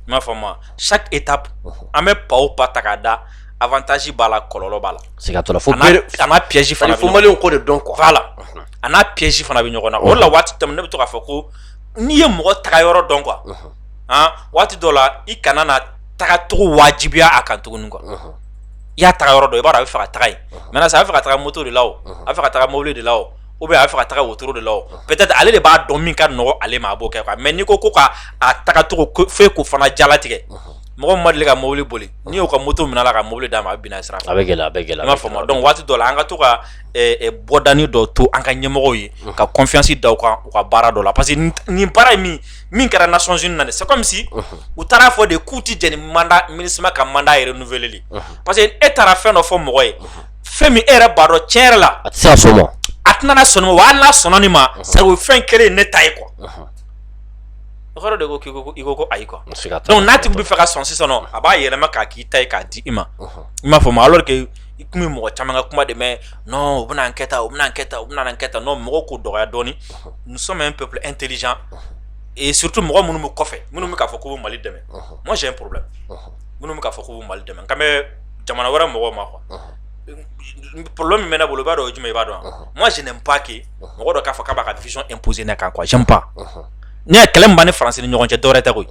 i m'a faamu chaque étape an bɛ pas o pas ta k'a da avantage b'a la kɔlɔlɔ b'a la piège fana fo maliyɛnw k'o de dɔn quoi voilà a n'a piège fana bɛ ɲɔgɔn na o la waati tɛmɛnen ne bɛ to k'a fɔ ko n'i ye mɔgɔ taga yɔrɔ dɔn quoi waati dɔ la i kana tagacogo wajibiya a kan tuguni quoi i y'a taga yɔrɔ dɔn i b'a dɔn a bɛ fɛ ka taga yen maintenant ça a bɛ fɛ ka taga moto de la a bɛ fɛ ka taga mobili de la ou bien a bɛ fɛ ka taga wotoro de la peut-être ale de b'a dɔn min ka nɔgɔ ale ma a b'o kɛ mais n'i ko ko k'a tagacogo fɔ k'o fana jalatigɛ mɔgɔ ma deli ka mobili boli n'i y'o ka moto minɛ la ka mobili d'a ma a bɛ bin sira fɛ a bɛ gɛlɛya i m'a faamu donc waati dɔ la an ka to ka bɔdanin dɔ to an ka ɲɛmɔgɔw ye ka confiance da u ka baara dɔ la parce que nin baara ye min min kɛra nations unies na dɛ c'est comme si u taara a fɔ de k'u tɛ jɛn ni mandat Minusima ka mandat renouveleli ye parce que e taara fɛn dɔ fɔ mɔgɔ ye fɛn min e yɛrɛ b'a dɔn tiɲɛ yɛrɛ la a tɛ se ka sɔn o ma a tɛna na sɔn nin ma wa hali n'a sɔnna nin ma c'est o fɛn kelen ye ne ta ye quoi o kɔrɔ de ko k'i ko ko- i ko ko ayi quoi N se ka taa. donc n'a tigi bɛ fɛ ka sɔn sisan nɔ a b'a yɛlɛma k'a k'i ta ye k'a di i ma i m'a faamu alors que i kun bɛ mɔgɔ caman ka kuma de mɛn n u bɛna an kɛta u bɛna kɛta u bɛna kɛta n'o mɔgɔ ko dɔgɔya dɔɔnin musoman min pp an teliz ee surutu mɔgɔ minnu bɛ kɔfɛ minnu bɛ'a fɔ ko mali dɛmɛ ma sɛ poro minnu bɛ'a fɔ ko mali dɛmɛ ka bɛ jamana wɛrɛ mɔgɔ ma kuwa polo min bɛ bolo b'a dɔn o jumɛn i b'a dɔn ma sen ba kɛ mɔgɔ dɔ k'a fɔ k' b'a ka vz in pse na k' kɔsɔnba ne ye kɛlɛ ban ni fara ni ɲɔgɔn cɛ dɔwɛrɛ tɛ koyi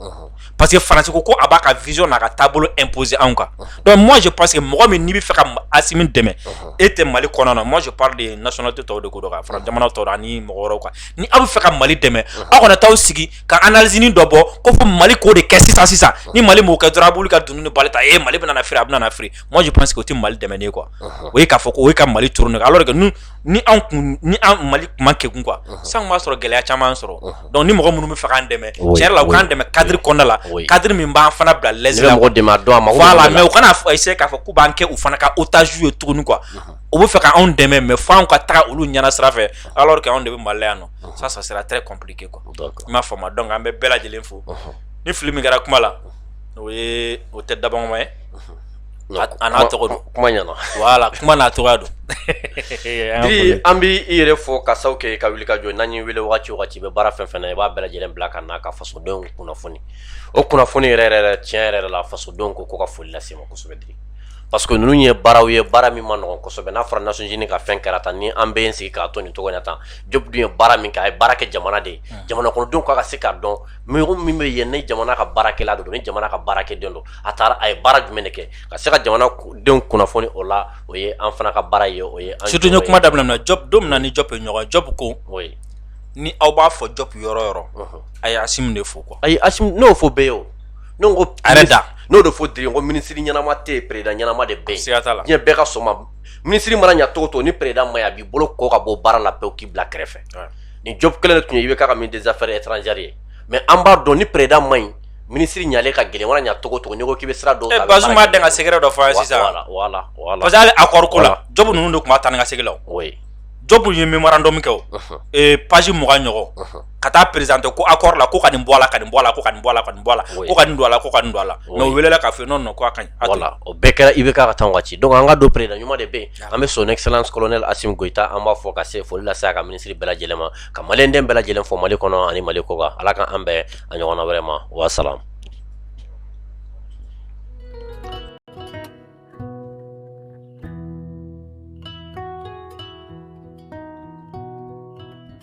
parce que Faransi ko ko a b'a ka vision n'a ka taabolo imposer anw kan donc moi je pense que mɔgɔ min n'i bɛ fɛ ka Asimi dɛmɛ e tɛ Mali kɔnɔ na moi je parle de nationalité tɔw de ko dɔn ka fara jamana tɔw la ani mɔgɔ wɛrɛw kan ni aw bɛ fɛ ka Mali dɛmɛ aw kana t'aw sigi ka analyse nin dɔ bɔ ko fo Mali k'o de kɛ sisan sisan ni Mali m'o kɛ dɔrɔn a b'olu ka dunni ni bali ta ee Mali bɛna na feere a bɛna na feere moi je pense que o tɛ Mali dɛmɛnen ye quoi o ye k'a fɔ ko o ye ka Mali turu ne kan alors que nous ni anw kun ni an Mali kun man kegun quoi sisan an kun b'a sɔrɔ gɛlɛya caman y'an sɔrɔ. donc ni mɔgɔ minnu bɛ fɛ k'an dɛmɛ tiɲɛ yɛrɛ la u k'an dɛmɛ cadre kɔnɔna la cadre min b'an fana bila l'aise la mais u kana essayer k'a fɔ k'u b'an kɛ u fana ka otage ye tuguni quoi u bɛ fɛ ka anw dɛmɛ mais fo anw ka taga olu ɲɛna sira fɛ alors que anw de bɛ mali la yan nɔ ça ça sera très compliqué quoi i m'a faamu donc an bɛ bɛɛ lajɛlen fo ni fili min kɛra kuma la o ye o tɛ dabɔkama ye A'a tɔgɔ don kuma ɲɛna voilà kuma n'a tɔgɔ don an bɛ i yɛrɛ fo ka sabu kɛ ka wuli ka jɔ n'an y'i weele wagati o wagati i bɛ baara fɛn o fɛn na i b'a bɛɛ lajɛlen bila ka na ka fasodenw kunnafoni o kunnafoni yɛrɛ yɛrɛ tiɲɛ yɛrɛ la fasodenw ko ko ka foli lase i ma kosɛbɛ Diri parce que ninnu ye baaraw ye baara min ma nɔgɔ kosɛbɛ n'a fɔra nations unies ka fɛn kɛra tan ni an b'an sigi k'a to nin cogo in na tan Job dun ye baara min kɛ a ye baara kɛ jamana de ye jamana kɔnɔdenw ka ka se k'a dɔn mɔgɔ min bɛ yen ni jamana ka baarakɛla don ni jamana ka baarakɛden don a taara a ye baara jumɛn de kɛ ka se ka jamana denw kunnafoni o la o ye an fana ka baara ye o ye surtout n ye kuma daminɛ na Diop don min na ni Diop ye ɲɔgɔn Diop ko ni aw b'a fo Diop yɔrɔ o yɔrɔ a ye Asimi de fo quoi ayi n'o fɔ bɛɛ ye o ne ko a da n'o de fɔ den ko minisiri ɲɛnama tɛ yen président ɲɛnama de bɛ yen siga t'a la diɲɛ bɛɛ ka sɔn a ma minisiri mana ɲɛ cogo o cogo ni président ma ɲi a b'i bolo kɔ ka bɔ baara la pewu k'i bila kɛrɛfɛ ni Diop kelen de tun ye IBK ka ministre des affaires étrangères ye mais an b'a dɔn ni président ma ɲi minisiri ɲalen ka gɛlɛn wara ɲɛ cogo o cogo n'i ko k'i bɛ sira dɔn eh, basi ma dan ka secret dɔ fɔ sisan parce que hali accord ko la Diop ninnu de tun bɛ taa ni ka segin la Diop ye mémorandum kɛ o eh, page mugan ɲɔgɔn ka taa présenter ko accord la ko ka nin bɔ a la ka nin bɔ a la ko ka nin bɔ a la ka nin bɔ a la ko ka nin don a la ko ka nin don a la mais o welela k'a fɔ non non ko a ka ɲi o bɛɛ kɛra IBK ka taa waati donc an k'a dɔn président ɲuman de bɛ yen An bɛ son excellence colonel Asimi Goyita an b'a fo ka se foli lase a ka minisiri bɛɛ lajɛlen ma ka maliyɛn den bɛɛ lajɛlen fo mali kɔnɔ ani mali kɔ kan ala k'an bɛn a ɲɔgɔn wɛrɛ ma wasalamu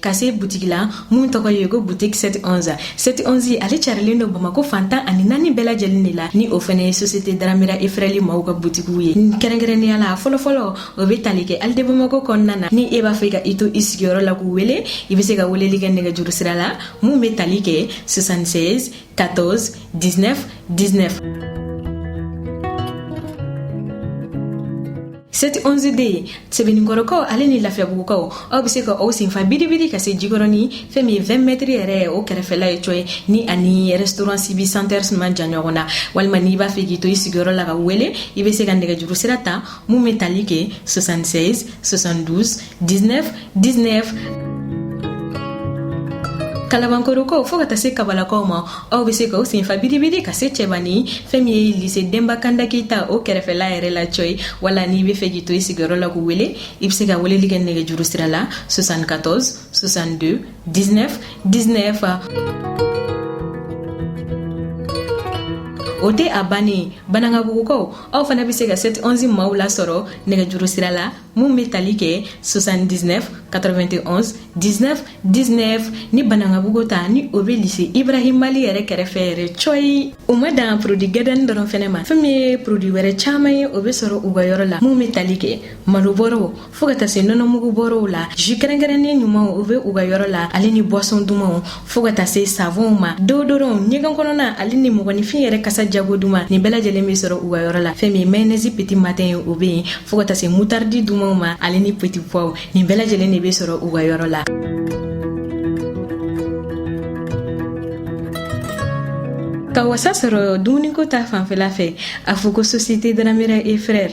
ka se butigi la mun tɔgɔ ye ko butigi sɛti onzi sɛti onzi ale carilen don bamako fan tan ani naani bɛɛ lajɛlen de la ni o fɛnɛ ye sosiyete Dramera et Frères maaw ka butigiw ye kɛrɛnkɛrɛnnenya la fɔlɔfɔlɔ o be tali kɛ alide bamako kɔnɔna na ni e b'a fɛ ka i to i sigiyɔrɔ la k'u wele i be se ka weleli kɛ nɛgɛjuru sira la mun be tali kɛ 76 14 19 19. sɛti 11 de ye sɛbɛnninkɔrɔkaw ale ni lafiyabugukaw aw bɛ se ka aw senfa biribiri ka se jikɔrɔni fɛn min ye 20 mɛtiri yɛrɛ o kɛrɛfɛla ye cɔyi ni ani restaurant sibi center man jan ɲɔgɔn na walima n'i b'a fɛ k'i to i sigiyɔrɔ la ka wele i bɛ se ka nɛgɛjuru sira ta mun bɛ tali kɛ 76 72 19 19 kalabankɔrɔkaw fɔɔ ka taa se kabalakaw ma aw be se ka aw senfa biribiri ka se cɛbani fɛɛn min ye lise denba kanda keita o kɛrɛfɛla yɛrɛ la cɔyi wala n'i b'a fɛ k'i to i sigiyɔrɔ la k'u wele i be se ka weleli kɛ nɛgɛjuru sira la 74 62 19 19 o tɛ a bannen banankabugukaw aw fana bɛ se ka 7 11 maaw lasɔrɔ nɛgɛjuru sira la min bɛ tali kɛ 79 91 19 19 ni banankabugu ta ni o bɛ lise Ibrahima Ly yɛrɛ kɛrɛfɛ yɛrɛ cɔyi u ma dan produit gɛdɛni dɔrɔn fɛnɛ ma fɛn min ye produit wɛrɛ caman ye o bɛ sɔrɔ u ka yɔrɔ la minnu bɛ tali kɛ malobɔrɔw fo ka taa se nɔnɔmugubɔrɔw la jus kɛrɛnkɛrɛnnen ɲumanw o bɛ u ka yɔrɔ la ale ni boisson dumanw fɔɔ ka taa se savonw ma déodorant ɲɛgɛn kɔnɔna ale ni mɔgɔninfin yɛrɛ kasa jago duman nin bɛɛ lajɛlen bɛ sɔrɔ u ka yɔrɔ la fɛn min mayonnaise petit matin ye o bɛ yen fɔɔ ka taa se moutarde dumanw ma ale ni petit pois nin bɛɛ lajɛlen de bɛ sɔrɔ u ka yɔrɔ la ka wasa sɔrɔ dumuniko ta fanfɛla fɛ a fɔ ko société dramera et frère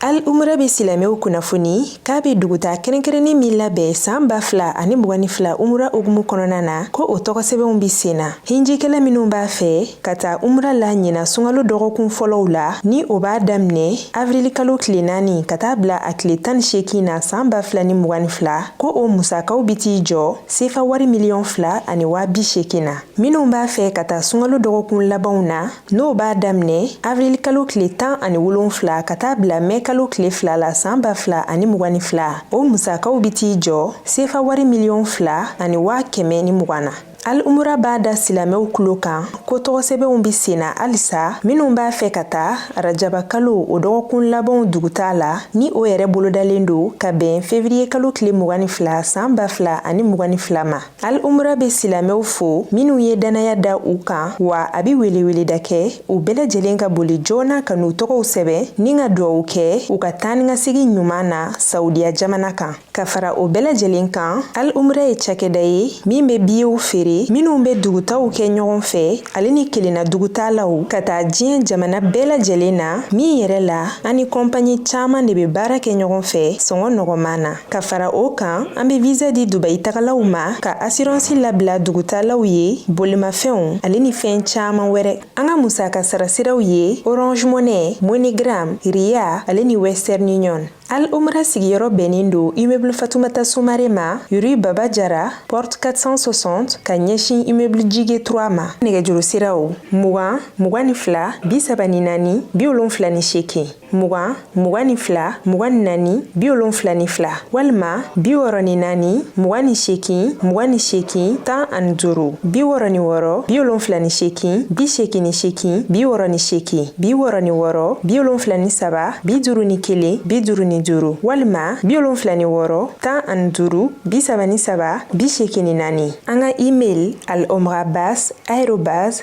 Al umra bɛ silamɛw kunnafoni k'a bɛ dugutaa kɛrɛnkɛrɛnnin min labɛn saan ba fila ani mugan ni fila umra hukumu kɔnɔna na ko o tɔgɔsɛbɛnw bɛ sen na hinjikɛla minnu b'a fɛ ka taa umra la ɲina sunkalo dɔgɔkun fɔlɔw la ni o b'a daminɛ avirilikalo tile naani ka taa bila a tile tan ni seegin na saan ba fila ni mugan ni fila ko o musakaw bɛ t'i jɔ sefa wari miliyɔn fila ani waa bi seegin na minnu b'a fɛ ka taa sunkalo dɔgɔkun labanw na N'o b'a daminɛ avril kalo tile tan ani wolonfila ka taa bila mɛ kalo tile fila la san ba fila ani mugan ni fila o musakaw bɛ t'i jɔ sefa wari miliyɔn fila ani waa kɛmɛ ni mugan na al umra b'a da silamɛw tulo kan ko tɔgɔsɛbɛnw bɛ senna halisa minnu b'a fɛ ka taa rajaba kalo o dɔgɔkun labanw dugutaa la ni o yɛrɛ bolodalen don ka bɛn fevriye kalo tile mugan ni fila san ba fila ani mugan ni fila ma al umra be silamɛw fo minw ye dannaya da u kan wa a be weleweleda kɛ u bɛɛ lajɛlen ka boli joona ka n'u tɔgɔw sɛbɛn ni ka duwawu kɛ u ka taanikasegi ɲuman na saudiya jamana kan ka fara o bɛɛ lajɛlen kan al umra ye cakɛda ye min be biyew feere minw be dugutaw kɛ ɲɔgɔn fɛ ale ni kelenna dugutaalaw ka taa diɲɛ jamana bɛɛ lajɛlen na min yɛrɛ la an ni kɔnpaɲi caaman de be baara kɛ ɲɔgɔn fɛ sɔngɔ nɔgɔman na Ka fara o kan an bɛ visa di dubayi tagalaw ma ka asiransi labila dugutaalaw ye bolimafɛnw ale ni fɛn caman wɛrɛ an ka musaka sarasiraw ye orange money moneygram ria ale ni western union al umra sigiyɔrɔ bɛnnen don immeuble fatumata sumare ma rue baba jara porte 460 ka ɲɛsin immeuble jige 3 ma nɛgɛjuru siraw mugan mugan ni fila bi saba ni naani bi wolonfila ni seegin mugan mugan ni fila mugan ni naani bi wolonfila ni fila walima bi wɔɔrɔ ni naani mugan ni sekin mugan ni sekin tan ani duuru bi wɔɔrɔ ni wɔɔrɔ bi wolonfila ni sekin bi sekin ni sekin bi wɔɔrɔ ni sekin bi wɔɔrɔ ni wɔɔrɔ bi wolonfila ni saba bi duuru ni kelen bi duuru ni duuru walima bi wolonfila ni wɔɔrɔ tan ani duuru bi saba ni saba bi sekin ni naani an ka email al omrabas arobase